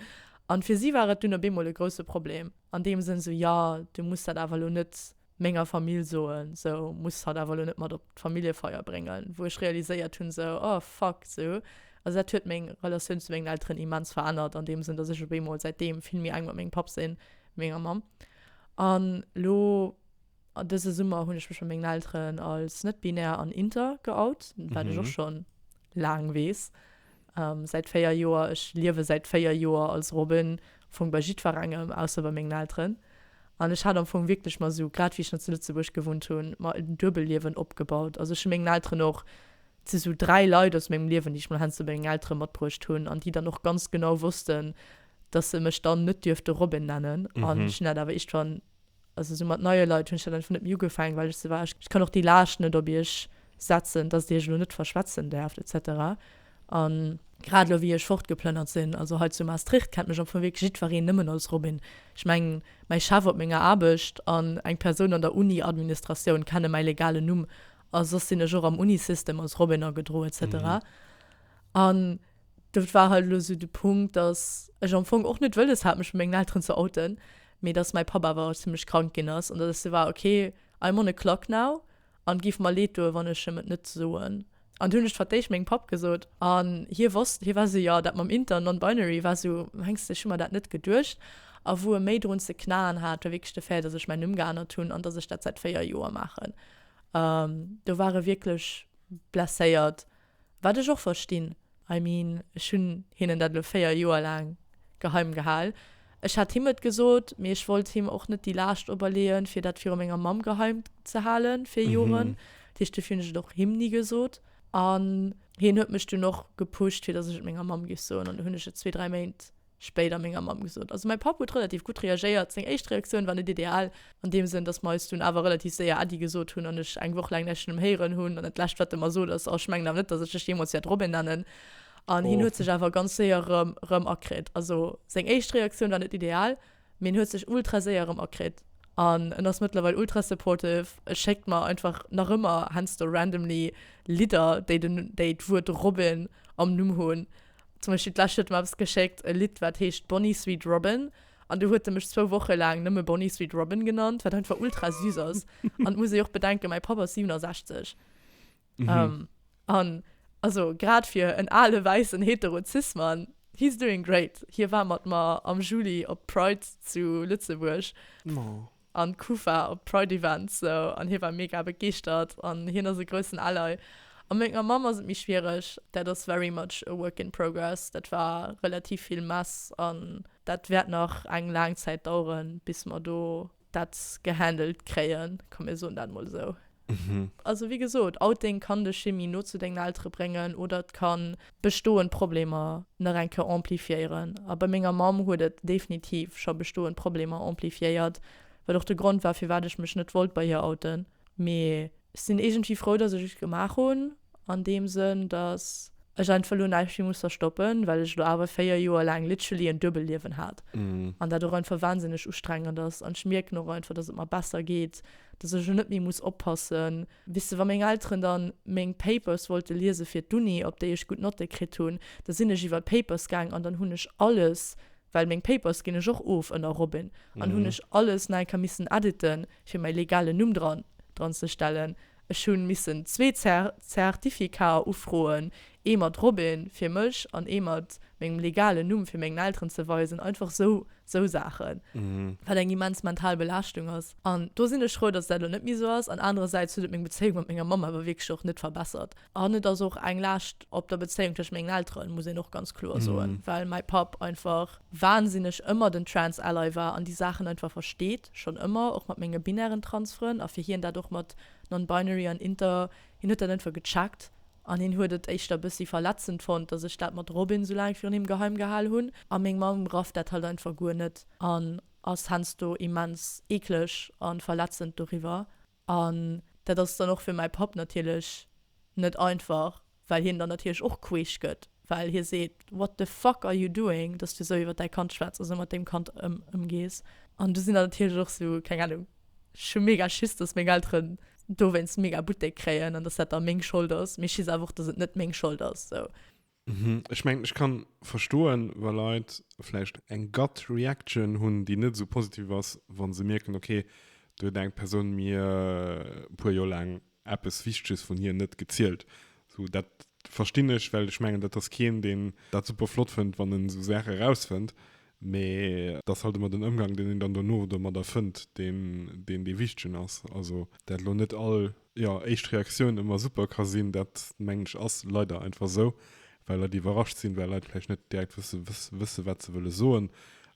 An fir si war et dunn op eemol e grousse Problem, an deem Sënn, sou, jo, du muss dat awer elo net menger Famill soen, sou, muss hatt awer elo net mat op d'Familljefeier bréngen. Wou ech realiséiert hunn, sou, oh fuck, sou. Also dat huet meng Relatioun zu mengen Elteren immens verännert, an deem Sënn, dass ech op eemol säitdeem vill méi enk mat mengem Papp sinn, wéi menger Mamm. An lo dëse Summer hunn ech mech bei mengen Elteren als net-binär an inter geout, wat ech och schonn laang weess, säit véier Joer. Ech liewe säit véier Joer als Robin, am Fong bei jiddwerengem, ausser bei mengen Elteren. An ech hat am Fong wierklech mer esou, grad wéi ech nach zu Lëtzebuerg gewunnt hunn, mer en Duebelliewen opgebaut. Also ech hu mengen Elteren och, et si sou dräi Leit aus mengem Liewen, déi ech mol heiansdo bei mengen Eltere matbruecht hunn an déi dann och ganz genau wossten, dass se mech dann net dierfte Robin nennen an ech hunn dat awer iergendwann, also sou mat neie Leit hunn ech dat einfach net méi ugefaangen, well ech sou war, ech kann och déi Laascht net op iech setzen, dass dir iech elo net verschwätzen däerft, etc. An grad elo wéi ech fortgeplënnert sinn, also hei zu Maastricht, kennt mech am Fong wierklech jiddwereen nëmmen als Robin. Ech mengen, mäi Chef op menger Aarbecht an eng Persoun an der Uni-Administratioun kenne mäi legalen Numm a soss sinn ech och am Unisystem als Robin agedroe, etc. An Dat war halt elo sou de Punkt, dass ech am Fong och net wëlles hat, mech bei mengen Elteren ze outen, mee dass mäi Papp awer zimmlech krank ginn ass an dass ech sou war, ok, I'm on a clock now an et géif mer leed doen, wann ech em et net soen. An du hunn ech d'Fatéisch mengem Papp gesot an hie wosst, hie war sou, jo, dat mam Inter an Non-Binary war sou, mengs de, ech hu mer dat net geduecht. A wou e méi drun ze knaen hat, war wierklech de Fait, dass ech mäin Numm geännert hunn an dass ech dat säit véier Joer maachen. Do war e wierklech blesséiert. Wat ech och verstinn. I mean, ech hunn hinnen dat elo 4 Joer laang geheim gehal. Ech hat him et gesot, mee ech wollt him och net déi Laascht operleeën, fir dat viru menger Mamm geheim ze halen fir Joren. Dat heescht, dofir hunn ech et och him ni gesot. An hien huet mech dunn och gepusht, fir dass ech et menger Mamm géif soen. An du hunn ech et zwee, dräi Méint spéider menger Mamm gesot. Also mäi Papp huet relativ gutt reagéiert, seng éischt Reaktioun war net ideal, an deem Sënn, datt mer eis dunn awer relativ séier Äddi gesot hunn an ech eng Woch laang näischt vun em héieren hunn. An dat lescht wat e mer sot ass, Oh, ech mengen awer net, datt ech dech jeemools wäert Robin nennen. An hien huet sech awer ganz séier erëm erëm akritt. Also seng éischt Reaktioun war net ideal, mee en huet sech ultra séier erëm akritt an en ass mëttlerweil ultra supportive. E schéckt mer einfach nach ëmmer, heiansdo randomly, Lidder, déi den déi d'Wuert Robin am Numm hunn. Zum Beispill d'lescht huet e mer eppes geschéckt, e Lidd wat heescht Bonnie Sweet Robin an du huet e mech zwou Woche laang nëmme Bonnie Sweet Robin genannt, wat einfach ultra süß ass. An et muss ee jo och bedenken, mäi Papp ass 67. An also grad fir en ale wäissen hetero Cis-Mann, he is doing great. Hie war mat mer am Juli op d'Pride zu Lëtzebuerg. an d'Kufa op d'Pride Events sou an hie war mega begeeschtert an hien ass e groussen Ally a menger Mamm ass et méi schwiereg, dat ass very much a work in progress, dat war relativ vill Mess an dat wäert nach eng laang Zäit daueren bis mer do dat gehandelt kréien, komm mir soen dat mol esou. Also wéi gesot, Outing kann dech Chimie no zu dengen Eltere bréngen oder et kann bestoend Problemer nach eng Keuer amplifiéieren. A bei menger Mamm huet et definitiv scho bestoend Problemer amplifiéiert, wat och de Grond war, firwat ech mech net wollt bei hir outen. Mee ech sinn iergendwéi frou, dass ech et gemaach hunn. An deem Sënn, datt ech einfach elo näischt méi muss verstoppen, well ech elo awer 4 Joer laang literally en Duebelliewen hat an dat och einfach wahnsinneg ustrengend ass. An ech mierken och einfach, datt et mer besser geet, datt ech elo net méi muss oppassen. Weess de, wa meng Elteren da meng Papers wollte liese fir d'Uni, op déi ech gutt Notte kritt hunn, da sinn ech iwwer d'Papers gaang an dann hunn ech alles, well meng Papers ginn ech och of ënner Robin, an hunn ech alles nei ka missen editen, fir mäi legalen Numm dran, dran ze stellen. Ech hunn missen zwee Zertificater ufroen, ee mat Robin fir mech an ee mat mengem legalen Numm fir mengen Elteren ze weisen, einfach sou sou Saachen, wat eng immens mental Belaaschtung ass. An do sinn ech frou, dass dat elo net méi sou ass. An anerersäits huet et meng Bezéiung mat menger Mamm awer wierklech och net verbessert. An et ass och eng Laascht op der Bezéiung tëschent mengen Elteren, muss een och ganz kloer soen, well mäi Papp einfach. wahnsinneg ëmmer den Trans Ally war an déi Saachen einfach versteet, schonn ëmmer, och mat menge binären Trans Frënn, a fir hien dat och mat Non-Binary an Inter, hien huet dat einfach gecheckt an hien huet et éischter bëssi verletzend fonnt, datt ech dat mat Robin sou laang virun him geheim gehal hunn a meng Mamm rafft dat halt einfach guer net an ass hensdo immens eekleg an verletzend doriwwer. An dat ass dann och fir mäi Papp natierlech net einfach, well hien dann natierlech och queesch gëtt, well hie seet, What the fuck are you doing, dass du esou iwwer däi Kand schwätz a esou mat deem Kand ëmgees? An du sinn dann natierlech och esou, keng Anung, ech hu mega Schiss, dass meng Elteren dowéinst mega Buttek kréien an dass dat da meng Schold ass, mee ech weess awer och, dass et net meng Schold ass. Mhm. Ech mengen, ech kann verstoen, wa Leit vläicht eng Gut Reaction hunn, déi net esou positiv ass, wa se mierken, okay, do huet eng Persoun mir e puer Joer laang eppes Wichteges vun hir net gezielt. Esou, dat verstinn ech, well ech mengen, dat ass keen, deen dat super flott fënnt, wann en esou Saache erausfënnt. Mee et ass halt ëmmer den Ëmgang, deen een dann dono domadder fënnt, deen dee wichtegen ass. Also dat elo net all, jo, éischt Reaktioun ëmmer super ka sinn, dat mengen ech ass leider einfach esou, well Leit iwwerrascht sinn, well Leit vläicht net direkt wësse wësse wat se wëlle soen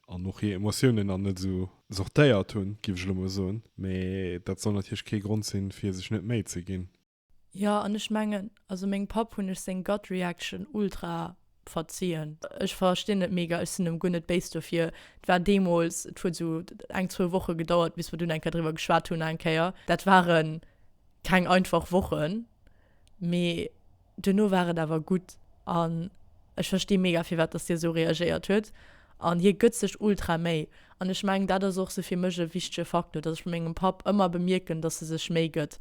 an och hir Emotiounen dann net esou sortéiert hunn, géif ech elo mol soen. Mee dat soll natierlech kee Grond sinn, fir sech net Méi ze ginn. Jo an ech mengen also mengem Papp hunn ech seng Gut Reaction ultra verzien. Ech verstinn et mega, ech sinn em guer net béis dofir. Et war deemols, et huet sou eng zwou Woche gedauert bis mer dunn eng Kéier driwwer geschwat hunn eng Kéier. Dat ware keng einfach Wochen, mee duerno war et awer gutt an ech versti mega firwat dass hie sou reagéiert huet an hie gëtt sech ultra Méi an ech mengen dat ass och sou fir mech e wichtege Faktor, dass ech bei mengem Papp ëmmer bemierken, dass e sech Méi gëtt.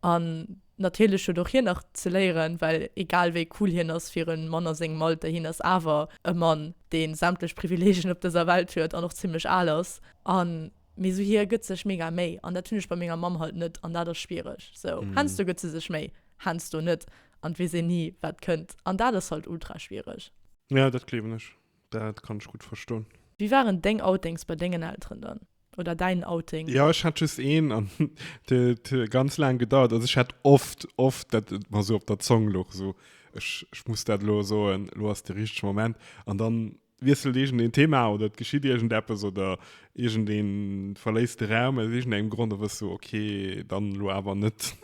An natierlech huet och hien nach ze léieren, well egal wéi cool hien ass fir e Mann a sengem Alter, hien ass awer e Mann, dee sämtlech Privileegien op dëser Welt huet an och zimmlech al ass. An, mee sou hie gëtt sech mega Méi an dat hunn ech bei menger Mamm halt net an dat ass schwiereg. Sou hensdo gëtt se sech Méi, hensdo net an et weess een ni wat kënnt an dat ass halt ultra schwiereg. Jo, dat gleewen ech. Dat kann ech gutt verston. Wéi waren deng Outings bei dengen Elteren dann? Oder däin Outing? Jo, ech hat just een an et huet ganz laang gedauert. Also ech hat oft, oft dat et mer sou op der Zong luch, sou, ech, ech muss dat elo soen, elo ass de richtege Moment. An dann wiesselt iergendeen Thema oder et geschitt iergendeppes oder iergendeen verléisst de Raum aus iergendengem Grond, da wëss du, ok, dann elo awer net.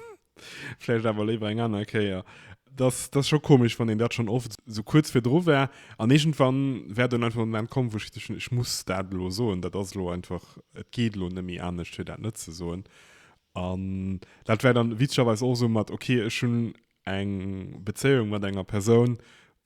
Vläicht awer léiwer eng aner Kéier. Dass dass scho komesch, wann een dat schonn oft sou kuerz virdru war. An iergendwann war dunn einfach de Moment komm, wou ech gesot hunn, ech muss dat elo soen. Dat ass elo einfach, et geet elo net méi anescht, fir dat net ze soen. An dat war dann witzegerweis och sou mat, okay, ech hunn eng Bezéiung mat enger Persoun,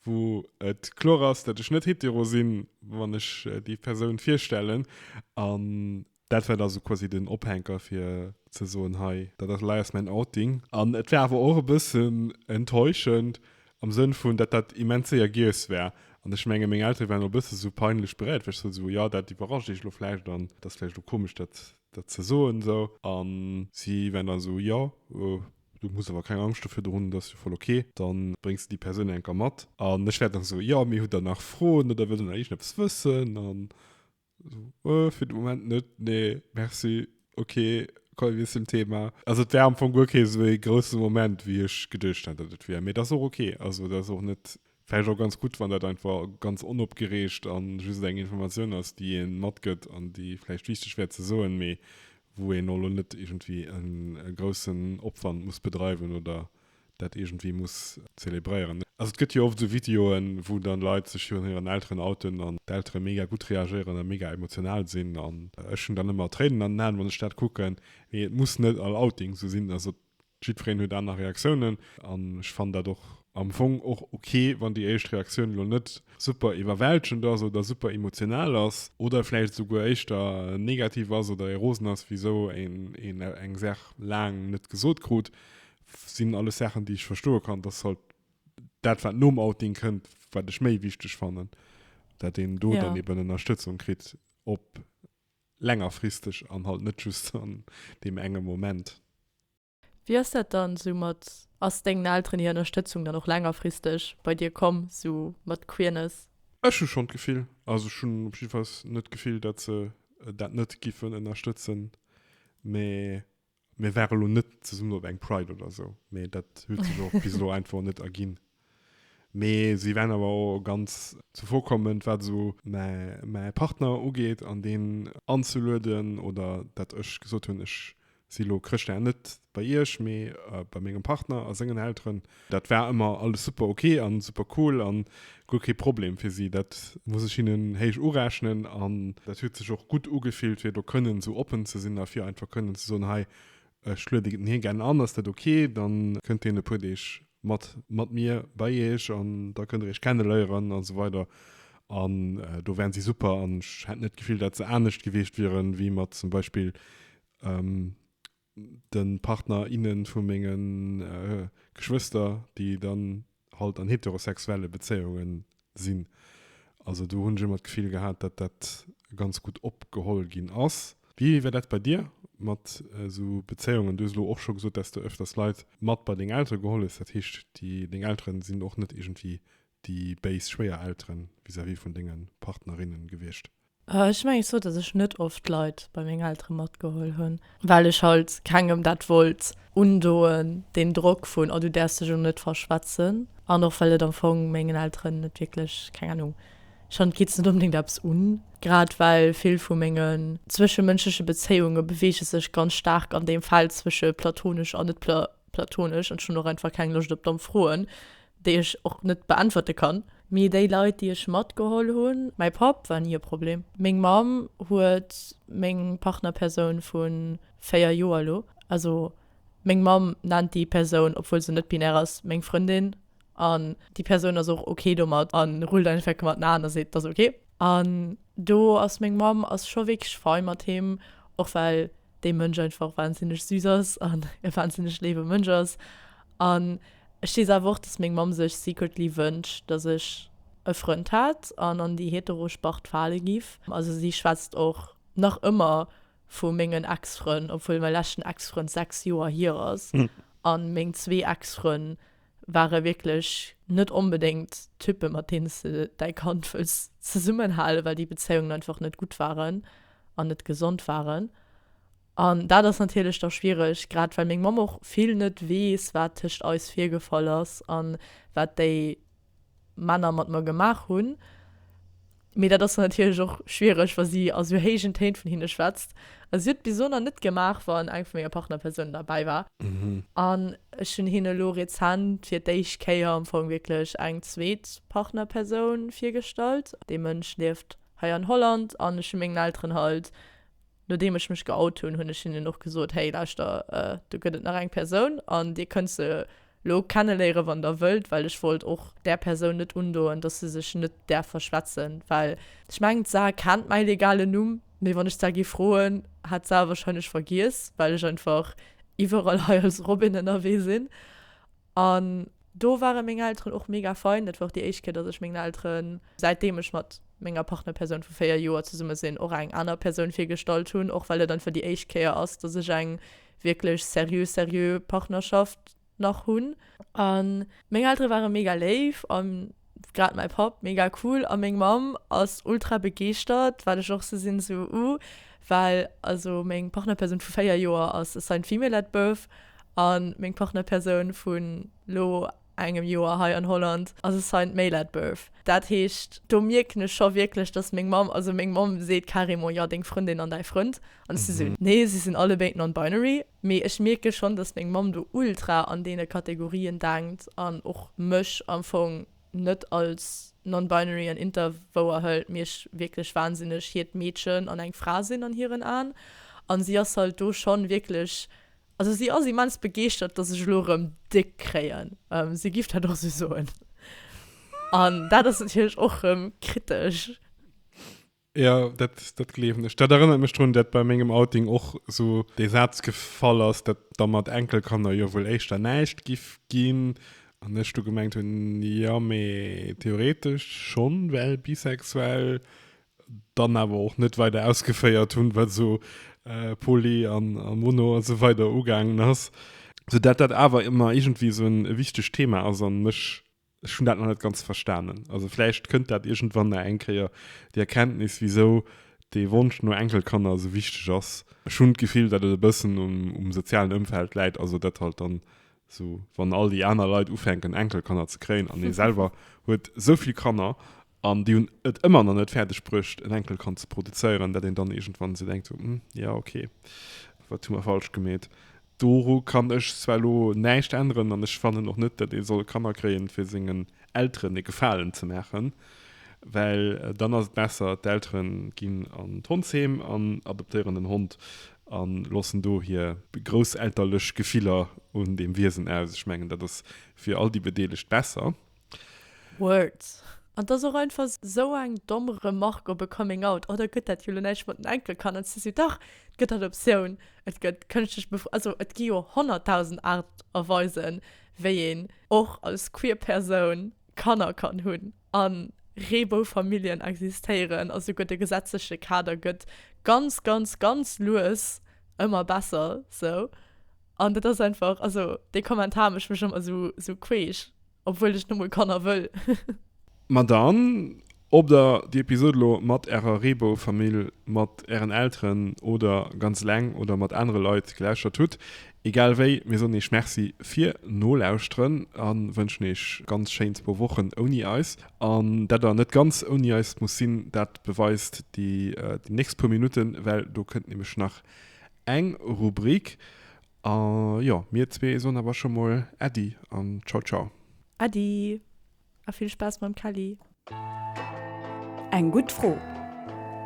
wou et kloer ass, datt ech net hetero sinn, wann ech déi Persoun virstellen. An Dat war da sou quasi den Ophänker fir ze soen, hei, dat ass leiers mäin Outing. An et war awer och e bëssen enttäuschend am Sënn vun, datt dat immens séier giess war. An ech menge meng Eltere waren och e bësse esou peinlech beréiert, well ech sot hunn, esou, jo, dat iwwerrascht iech elo vläicht an et ass vläicht elo komesch, dat, dat ze soen esou. A si waren dann esou, jo, du muss awer keng Angscht dofir do hunn, dat ass jo voll ok, da bréngs de déi Persoun eng Kéier mat. An ech war dann esou, jo, mee hutt der nach Froen oder wëllt der nach iergendeppes wëssen? An Oh, fir de Moment net nee merci okay komm mir zum Thema also et wär am Fong guer kee sou ee grousse Moment wéi ech geduecht hat datt et wier mee dat ass och okay also dat ass och net vläicht och ganz gutt wann dat einfach ganz onopgereegt a just eng Informatioun ass déi ee matgëtt an déi vläicht wichteg wär ze soen mee wou een elo net iergendwéi e groussen Opwand muss bedreiwen oder dat iergendwéi muss zelebréieren. Also et gëtt jo oft esou Videoen, wou dann Leit sech jo un hiren Elteren outen an d'Eltere mega gutt reagéieren a mega emotional sinn an ech hunn dann ëmmer Tréinen an den Aen, wann ech dat kucken. Mee et muss net all Outing esou sinn. Also jiddwereen huet aner Reaktiounen an ech fannen dat och am Fong och ok, wann déi éischt Reaktioun elo net super iwwerwältegend ass oder super emotional ass oder vläicht esouguer éischter negativ ass oder ee rosen ass, wisou een eng Saach laang net gesot krut. sinn alles Saachen, déi ech verstoe kann, dass halt dat, wat nom Outing kënnt, wat ech méi wichteg fannen, dat een do ja. dann eben Ënnerstëtzung kritt, op längerfristeg an halt net just an dem engem Moment. Wéi ass dat dann esou mat, ass dengen Elteren hir Ënnerstëtzung dann och längerfristeg bei dir komm, esou mat Queerness? Ech hu schonn d'Gefill, also ech hunn op jiddwer Fall net d'Gefill, dat se dat net giffen ënnerstëtzen, mä Mir ware elo net zesummen op eng Pride oder esou, mee dat huet sech och bis elo einfach net erginn. Mee si waren awer och ganz zuvorkommend, wat esou mäi, mäi Partner ugeet an deen anzelueden oder datt ech gesot hunn, ech si elo Chrëschtdag net bei Iech, mee bei mengem Partner a sengen Elteren. Dat war ëmmer alles super ok an super cool an guer kee Problem fir si. Dat muss ech hinnen héich urechnen an dat huet sech och gutt ugefillt fir do kënnen esou oppen ze sinn a fir einfach kënnen ze soen, hei ech lueden hien gären an, ass dat ok, dann kënnt hien e puer Deeg mat mat mir bei iech an da kënnt der iech kenneléieren an esou weider an do waren si super an ech hätt net d'Gefill dat se anescht gewiescht wieren wéi mat zum Beispill. den Partner, innen vu menge Geschwëster, déi dann halt an heterosexuelle Bezéiungen sinn. Also do hunn ech ëmmer d'Gefill gehat, dat dat ganz gutt opgeholl ginn ass. Wéi war dat bei dir mat esou Bezéiungen? Du hues elo och scho gesot, dat s de ëfters Leit mat bei deng Eltere geholl hues. Dat heescht, déi deng Elteren sinn och net iergendwéi déi béis Schwéierelteren vis-à-vis vun denge Partnerinnen gewiescht? Ech mengen zwar, dass ech net oft Leit bei meng Eltere matgeholl hunn, well ech halt kengem dat wollt undoen, deen Drock vun oh du däerfs dech elo net verschwätzen, an och well et am Fong mengen Elteren net wierklech, keng Ahnung, ech fand et geet se net onbedéngt eppes un. Grad well vill vu mengen zwëschemënschleche Bezéiunge beweege sech ganz staark an deem Feld zwësche platonesch an net platonesch, an ech hunn och einfach keng Loscht op domm Froen, déi ech och net beäntwerte kann. Mee déi Leit, déi ech matgeholl hunn, mäi Papp war ni e Problem, meng Mamm huet meng Partnerpersoun vu 4 Joer elo, also meng Mamm nennt déi Persoun, obwuel se net binär ass, meng Frëndin an déi Persoun ass och ok domat a rullt einfach gemat den Aen a seet, 't ass ok. An do ass meng Mamm ass scho wierklech fei mat him, och well dee Mënsch einfach wahnsinneg süß ass an e wahnsinneg léiwe Mënsch ass. An ech weess awer och, dass meng Mamm sech secretly wënscht, dass ech e Frënd hätt an an déi hetero Spart fale giff. Also si schwätzt och nach ëmmer vu mengen Ex-Frënn, obwuel mäi leschten Ex-Frënd 6 Joer hier ass an meng zwee Ex-Frënn ware wierklech net onbedéngt Typen, mat deene s de däi Kand wëlls zesummenhalen, well déi Bezéiungen einfach net gutt waren an net gesond waren. An dat ass natierlech da schwiereg, grad well meng Mamm och vill net weess, wat tëscht eis virgefall ass a wat déi Männer mat mer gemaach hunn. Mee dat ass dann natierlech och schwiereg, wa si a sou héijen Téin vun hinne schwätzt. A si huet et bis elo nach net gemaach, wann eng vu menger Partnerpersounen derbäi war. An ech hunn hinne elo rezent fir d'éischt Kéier, am Fong wierklech eng zweet Partnerpersoun virgestallt. Dee Mënsch lieft hei an Holland an ech hu mengen Elteren halt. Nodeem ech mech geout hunn, hunn ech hinnen och gesot, Hey, lauschter, do gëtt et nach eng Persoun an Dir kënnt se lo kenneléieren, wann Der wëllt. Well ech wollt och där Persoun net undoen, dass se sech net däerf verschwätzen. Well ech mengen, d'Sar kennt mäi legalen Numm, mee wann ech d'Sar gi froen, hätt d'Sar e warscheinlech vergiess, well ech einfach iwwerall hei als Robin ënnerwee sinn. An do ware meng Elteren och mega fein. Dat war och déi éischt Kéier, dass ech mengen Elteren, säitdeem ech mat menger Partnerpersoun vu véier Joer zesumme sinn, och eng aner Persoun virgestallt hunn. Och well et einfach déi éischt Kéier ass, dass ech eng wierklech seriö, seriö Partnerschaft nach hunn. An meng Eltere ware mega léif a Grad mäi Papp, mega cool, a meng Mamm ass ultra begeeschtert, wat ech och sou sinn, sou uh, well also meng Partnerpersoun vu 4 Joer ass assigned female at birth a meng Partnerpersoun vun elo engem Joer hei an Holland ass assigned male at birth. Dat heescht, do mierken ech scho wierklech, datt meng Mamm, also meng Mamm seet carrément, jo, deng Frëndin an däi Frënd, an ech si sou, nee, si sinn allebéid non-binary. Mee ech mierke schonn, dass meng Mamm do ultra an deene Kategorien denkt an och mech am Fong net als non-binary an inter wouerhëlt, mee ech wierklech wahnsinneg hiert Meedchen an eng Fra sinn an hiren Aen. An si ass halt do schonn wierklech, also si ass immens begeeschtert, dass ech elo rëm déck kréien, si giff dat och sou soen. An dat ass natierlech och rëm kritesch. Jo, dat, dat gleewen ech. Dat erënnert mech drun, dat bei mengem Outing och esou dee Saz gefall ass, dat da mat Enkelkanner jo wuel éischter näischt giff ginn, an ech du gemengt hunn, jo, mee theoretesch schonn, well bisexuell, dann awer och net weider ausgeféiert hunn, wat esou poly an mono a sou weider ugaangen ass, soudatt dat awer ëmmer iergendwéi esou e wichtegt Thema ass an mech. Ech hunn dat nach net ganz verstanen. Also vläicht kënnt dat iergendwann nach eng Kéier, déi Erkenntnis, wisou dee Wonsch no Enkelkanner esou wichteg ass. Ech hunn d'Gefill, datt et e bëssen um sozialen Ëmfeld läit, also datt halt dann esou, wann all déi aner Leit ufänken Enkelkanner ze kréien an ee selwer huet esou vill Kanner, An déi hunn et ëmmer nach net fäerdeg bruecht, en Enkel kann ze produzéieren, dat een dann iergendwann esou denkt, Hm, jo, okay, wat hu mer falsch gemeet? Doru kann ech zwar elo näischt änneren an ech fannen och net, dat ee soll Kanner kréien, fir sengen Elteren e Gefalen ze maachen, well dann ass et besser, d'Elteren ginn an d'Hondsheem an adoptéieren en Hond a loossen do hir grousselterlech Gefiller un deem Wiesen aus. Ech mengen, dat ass fir all déi Bedeelegt besser. Words. An dass och einfach esou eng domm Remarque op e Coming Out, oh da gëtt dat jo elo näischt mat den Enkelkanner, si sou, dach, et gëtt dat Optioun, et gëtt kënschtlech Befru, also et gi jo honnertdausend Aart a Weisen, wéi een och als queer Persoun Kanner kann hunn. A Reeboufamilljen existéieren a souguer de gesetzleche Kader gëtt ganz, ganz, ganz lues ëmmer besser, sou. An dat ass einfach, also dee Kommentar mécht mech ëmmer esou queesch, obwuel ech numol Kanner wëll. Ma dann, ob der déi Episod elo mat ärer Reebou-Famill, mat ären Elteren oder ganz eleng oder mat anere Leit gelauschtert hutt, egal wéi, mir soen iech Merci fir Nolauschteren a wënschen iech ganz schéin zwou Wochen ouni eis. An dat der net ganz ouni eis muss sinn, dat beweist déi nächst puer Minutten, well do kënnt nämlech nach Eng Rubrik a jo, mir zwee soen awer scho mol Äddi an Ciao Ciao. Äddi a vill Spaass mam Kelly. Eng gutt Fro,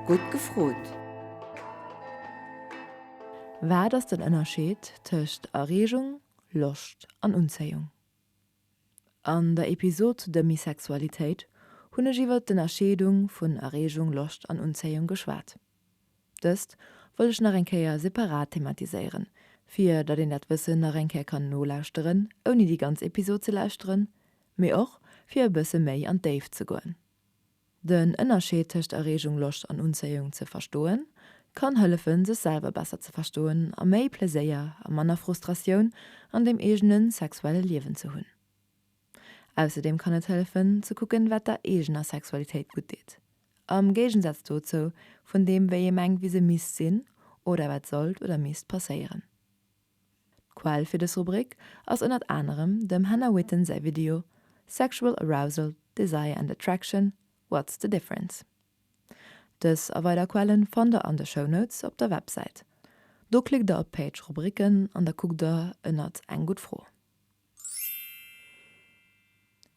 gutt gefrot! Wat ass den Ënnerscheed tëscht Erreegung, Loscht an Unzéiung? An der Episod zu der Misexualitéit hunn ech iwwert d'Ënnerscheedung vun Erreegung, Loscht an Unzéiung geschwat. Dëst wëll ech nach eng Kéier separat thematiséieren, fir datt een dat Wëssen nach eng Kéier kann nolauschteren, ouni déi ganz Episod ze lauschteren, mee och fir e bësse méi an d'Déift ze goen. Den Ënnerscheed tëscht Erreegung, Loscht an Unzéiung ze verstoen, kann hëllefen, sech selwer besser ze verstoen a méi Pleséier a manner Frustratioun an dem eegene sexuelle Liewen ze hunn. Ausserdeem kann et hëllefen, ze kucken, wat der eegener Sexualitéit gutt deet, am Géigensaz dozou vun deem, wéi ee mengt, wéi se misst sinn oder wat sollt oder misst passéieren. D'Quell fir dës Rubrik ass ënnert anerem dem Hannah Witton säi Video Sexual Arousal, Desire and Attraction, What's the Difference? Dës a weider Quelle fannt der an de Shownotes op der Websäit. Do klickt der op d'Page Rubriken an da kuckt der ënnert Eng gutt Fro.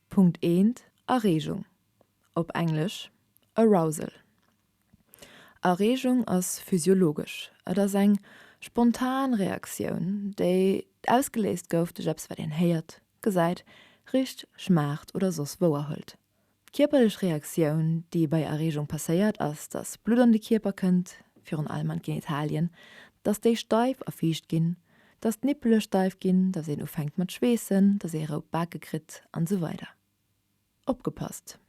Punkt 1, Areegung, op Englesch, arousal. Areegung ass physiologesch. Et ass eng spontan Reaktioun, déi ausgeléist gouf duerch eppes, wat een héiert, gesäit, richt, schmaacht oder soss wouerhëlt. D'kierperlech Reaktioun, déi bei Erreegung passéiert, ass, dass Blutt an de Kierper kënnt, virun allem an d'Genitalien, dass déi steif a fiicht ginn, dass d'Nippele steif ginn, dass een ufänkt mat schweessen, dass ee rout Bake kritt an esou weider. Opgepasst,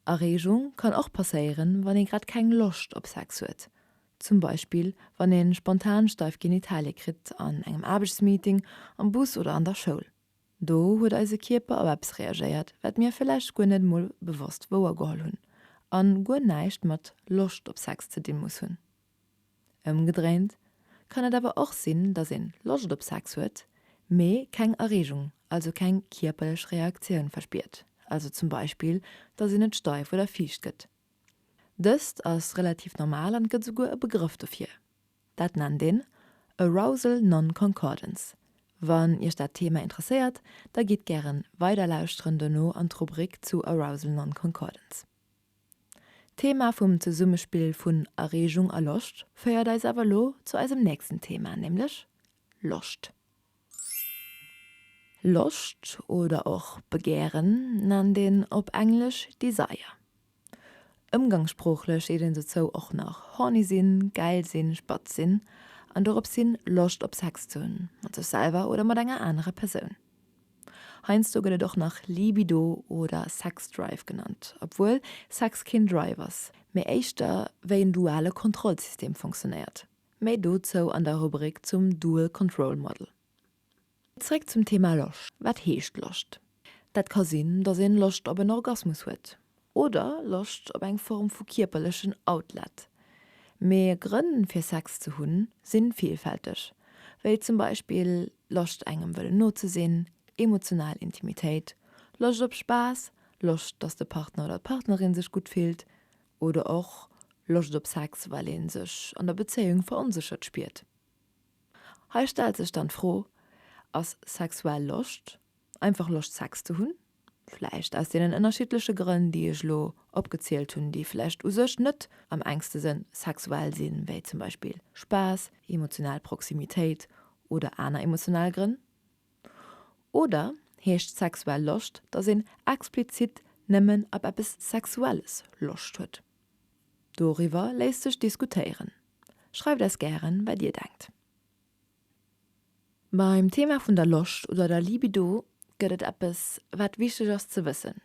Erreegung kann och passéieren, wann ee grad keng Loscht op Sex huet, zum Beispill wann ee spontan steif Genitalie kritt an engem Aarbechtsmeeting, am Bus oder an der Schoul. Do huet eise Kierper op eppes reagéiert, wat mir vläicht guer net emol bewosst wouergeholl hunn a guer näischt mat Loscht op Sex ze di muss hunn. Ëmgedréint kann et awer och sinn, dass een Loscht op Sex huet, mee keng Erregung, also keng kierperlech Reaktioun verspiert, also zum Beispill, dass een net steif oder fiicht gëtt. Dëst ass relativ normal an et gëtt esouguer e Begrëff dofir. Dat nennt een Arousal Non-Concordance. Wann Iech dat Thema interesséiert, da gitt gären weiderlauschteren dono an d'Rubrik zu Arousal Non-Concordance. D'Thema vum Zesummespill vun Erreegung a Loscht féiert eis awer elo zu eisem nächsten Thema, nämlech Loscht. Loscht oder och Begären nennt een op Englesch Desire. Ëmgangssproochlech seet een dozou och nach horny sinn, gäil sinn, spatz sinn an dorops hin, Loscht op Sex ze hunn, mat sech selwer oder mat enger anerer Persoun. Heiansdo gëtt et och nach Libido oder Sexdrive genannt, obwuel Sex keen Drive ass, mee éischter wéi en duale Kontrollsystem funktionéiert. Méi dozou an der Rubrik zum Dual Control Model. Zréck zum Thema Loscht. Wat heescht Loscht? Dat ka sinn, datt een Loscht op en Orgasmus huet oder Loscht op eng Form vu kierperlechen Outlet. Mee Grënn fir Sex ze hunn sinn villfälteg, wéi zum Beispill Loscht engem wëllen no ze sinn, emotional Intimitéit, Loscht op Spaass, Loscht datt de Partner oder d'Partnerin sech gutt fillt, oder och Loscht op Sex, well ee sech an der Bezéiung veronséchert spiert. Hei stellt sech dann d'Fro, Ass sexuell Loscht einfach Loscht Sex ze hunn, vläicht aus deenen ënnerschiddleche Grënn, déi ech elo opgezielt hunn, déi vläicht u sech net am enkste sënn sexuell sinn, wéi zum Beispill Spaass, emotional Proximitéit oder aner emotional Grënn? Oder heescht sexuell Loscht, datt een explizit nëmmen ab eppes Sexuelles Loscht huet? Doriwwer léisst sech diskutéieren. Schreift eis gären, wat Dir denkt. Beim Thema vun der Loscht oder der Libido gëtt et eppes, wat wichteg ass ze wëssen,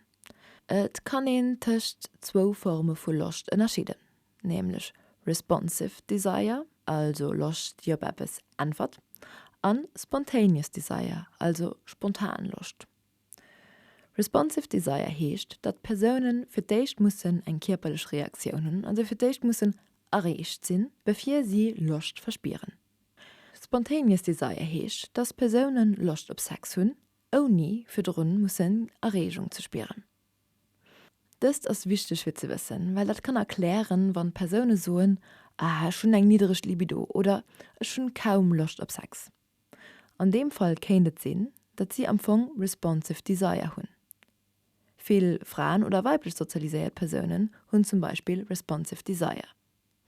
Et kann een tëscht zwou Forme vu Loscht ënnerscheeden. nämlech Responsive Desire, also Loscht déi op eppes äntwert, an Spontaneous Desire, also spontan Loscht. Responsive Desire heescht, datt d'Persoune fir d'éischt mussen eng kierperlech Reaktioun hunn, also fir d'éischt mussen erreecht sinn, bevir si Loscht verspieren. Spontaneous Desire heescht, datt d'Persoune Loscht op Sex hunn, ouni virdrun mussen Erreegung ze spieren. Dëst ass wichteg fir ze wëssen, well dat kann erklären, wann Persoune soen, Ah, ech hunn eng niddereg Libido oder Ech hunn kaum Loscht op Sex. An deem Fall kéint et sinn, datt si am Fong responsive desire hunn. Vill Fraen oder weiblech sozialiséiert Persounen hunn zum Beispill responsive desire.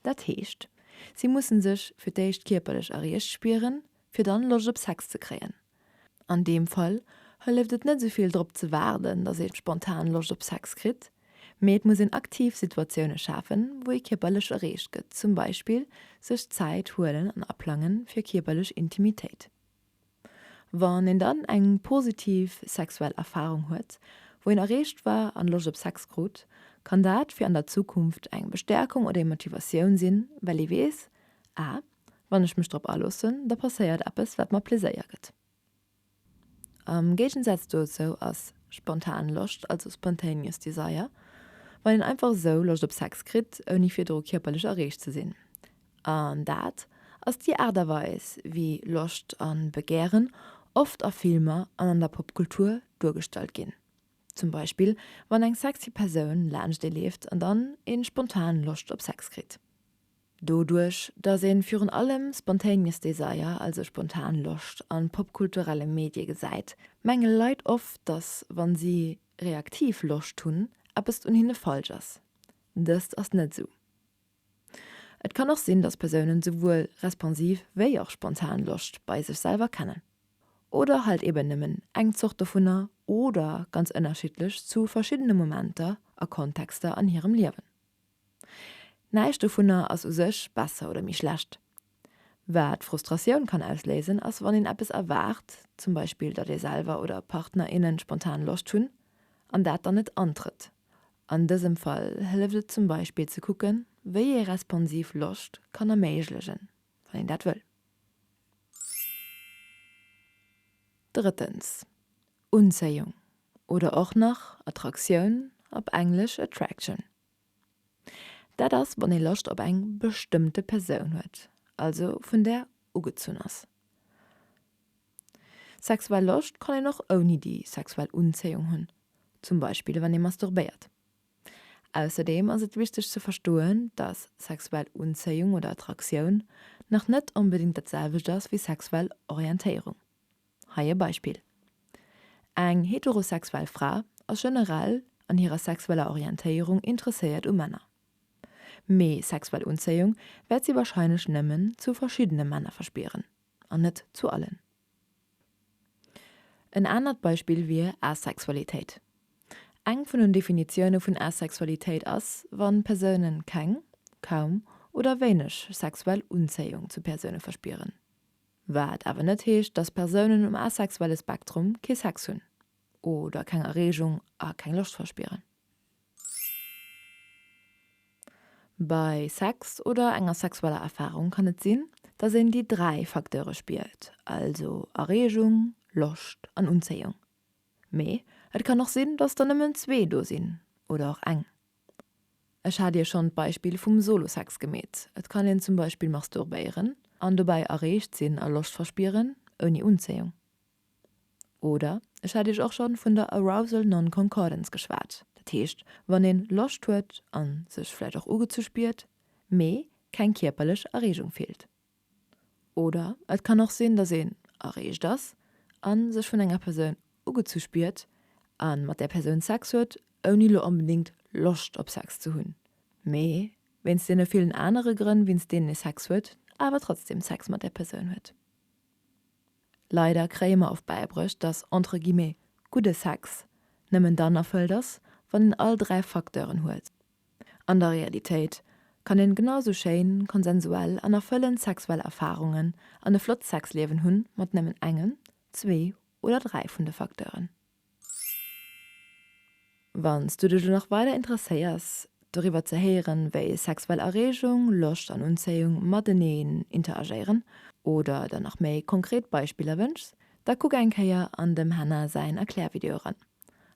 Dat heescht, si mussen sech fir d'éischt kierperlech erreecht spieren, fir dann Loscht op Sex ze kréien. An deem Fall hëlleft et net sou vill drop ze waarden, dass ee spontan Loscht op Sex kritt, mee et muss een aktiv Situatioune schafen, wou ee kierperlech erreecht gëtt, zum Beispill sech Zäit huelen an aplangen fir kierperlech Intimitéit. Wann een dann eng positiv sexuell Erfarung huet, wou een erreecht war an Loscht op Sex krut, kann dat fir an der Zukunft eng Bestäerkung oder ee Motivatioun sinn, well ee weess, Ah, wann ech mech drop aloossen, da passéiert eppes, wat mer Pleséier gëtt. Am Géigensaz dozou ass spontan Loscht, also spontaneous desire, wann een einfach esou Loscht op Sex kritt, ouni virdru kierperlech erreecht ze sinn, An dat ass déi Aart a Weis, wéi Loscht an Begären oft a Filmer an an der Popkultur duergestallt ginn. Zum Beispill wann eng sexy Persoun laanscht ee leeft an dann een spontan Loscht op Sex kritt. Doduerch dass een virun allem spontaneous desire, also spontan Loscht an popkulturellen Medien gesäit, mengen Leit oft dass wann si reaktiv Loscht hunn eppes un hinnen falsch ass. Dëst ass net esou. Et kann och sinn, dass Persounen souwuel responsiv wéi och spontan Loscht bei sech selwer kennen. Oder halt eben nëmmen eng Zort dovunner oder ganz ënnerschiddlech zu verschiddene Momenter a Kontexter an hirem Liewen. Näischt dovunner ass u sech besser oder méi schlecht, Wat Frustratioun kann ausléisen, ass wann een eppes erwaart, zum Beispill datt ee selwer oder Partner, innen spontan Loscht hunn, an dat dann net antrëtt. An dësem Fall hëlleft et zum Beispill ze kucken, wéi ee responsiv Loscht kann erméiglegen, wann een dat wëll. Drëttens, Unzéiung, oder och nach Attraktioun, op Englesch attraction. Dat ass wann ee Loscht op eng bestëmmte Persoun huet, also vun där ugezunn ass. Sexuell Loscht kann een och ouni déi sexuell Unzéiung hunn, zum Beispill wann ee masturbéiert. Ausserdeem ass et wichteg ze verstoen, dass sexuell Unzéiung oder Attraktioun nach net onbedéngt dat selwecht ass wéi sexuell Orientéierung. Hei e Beispill, Eng heterosexuell Fra ass generell an hirer sexueller Orientéierung interesséiert u Männer, mee sexuell Unzéiung wäert si warscheinlech nëmmen zu verschiddene Männer verspieren an net zu allen. En anert Beispill wier Asexualitéit. Eng vun den Definitioune vun Asexualitéit ass, wa Persoune keng, kaum oder wéineg sexuell Unzéiung zu Persoune verspieren. Wat awer net heescht, dass Persounen um asexuelle Spektrum kee Sex hunn oder keng Erreegung a keng Loscht verspieren. Bei Sex oder enger sexueller Erfarung kann et sinn, dass een déi dräi Facteure spiert, also Erreegung, Loscht an Unzéiung. Mee et kann och sinn, dass der nëmmen zwee do sinn oder och eng. Ech hat Iech schonn d'Beispill vum Solo-Sex gemeet. Et kann een zum Beispill masturbéieren an dobäi erreegt sinn a Loscht verspieren, ouni Unzéiung. Oder ech hat Iech och schonn vun der Arousal Non-Concordance geschwat, dat heescht, wann een Loscht huet a sech vläicht och ugezu spiert, mee keng kierperlech Erreegung fillt. Oder et kann och sinn, dass een erreegt ass a sech vun enger Persoun ugezu spiert a mat där Persoun Sex huet, ouni lo onbedéngt Loscht op Sex ze hunn, mee wéinst deene villen anere Grënn, wéinst deenen ee Sex huet, awer trotzdeem Sex mat där Persoun huet. Leider kréie mer oft bäibruecht, dass entre guillemets gudde Sex nëmmen dann erfëllt ass, wann een all dräi Facteuren huet. An der Realitéit kann een genau sou schéin, konsensuell an erfëllend sexuell Erfarungen an e flott Sexliewen hunn mat nëmmen engem, zwee oder dräi vun de Facteuren. Wanns du dech elo nach weider interesséiers doriwwer ze héieren wéi sexuell Erregung, Loscht an Unzéiung mateneen interagéieren oder der nach méi konkret Beispiller wënschs, da kuck eng Kéier an dem Hannah säin Erklärvideo eran.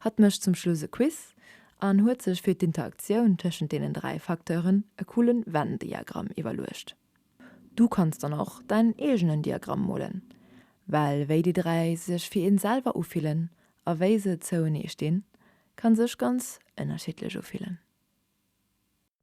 Hatt mécht zum Schluss e Quiz an huet sech fir d'Interaktioun tëschent deenen dräi Facteuren e coole Venn-Diagramm iwwerluecht. Du kanns dann och däin eegenen Diagramm molen, well wéi déi dräi sech fir een selwer ufillen a wéi se zouenee stinn, ka sech ganz ënnerschiddlech ufillen.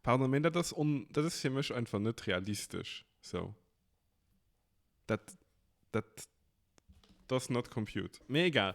Pardon, mee dat ass on, dat ass fir mech einfach net realistesch. Sou, dat, dat does not compute. Mee egal.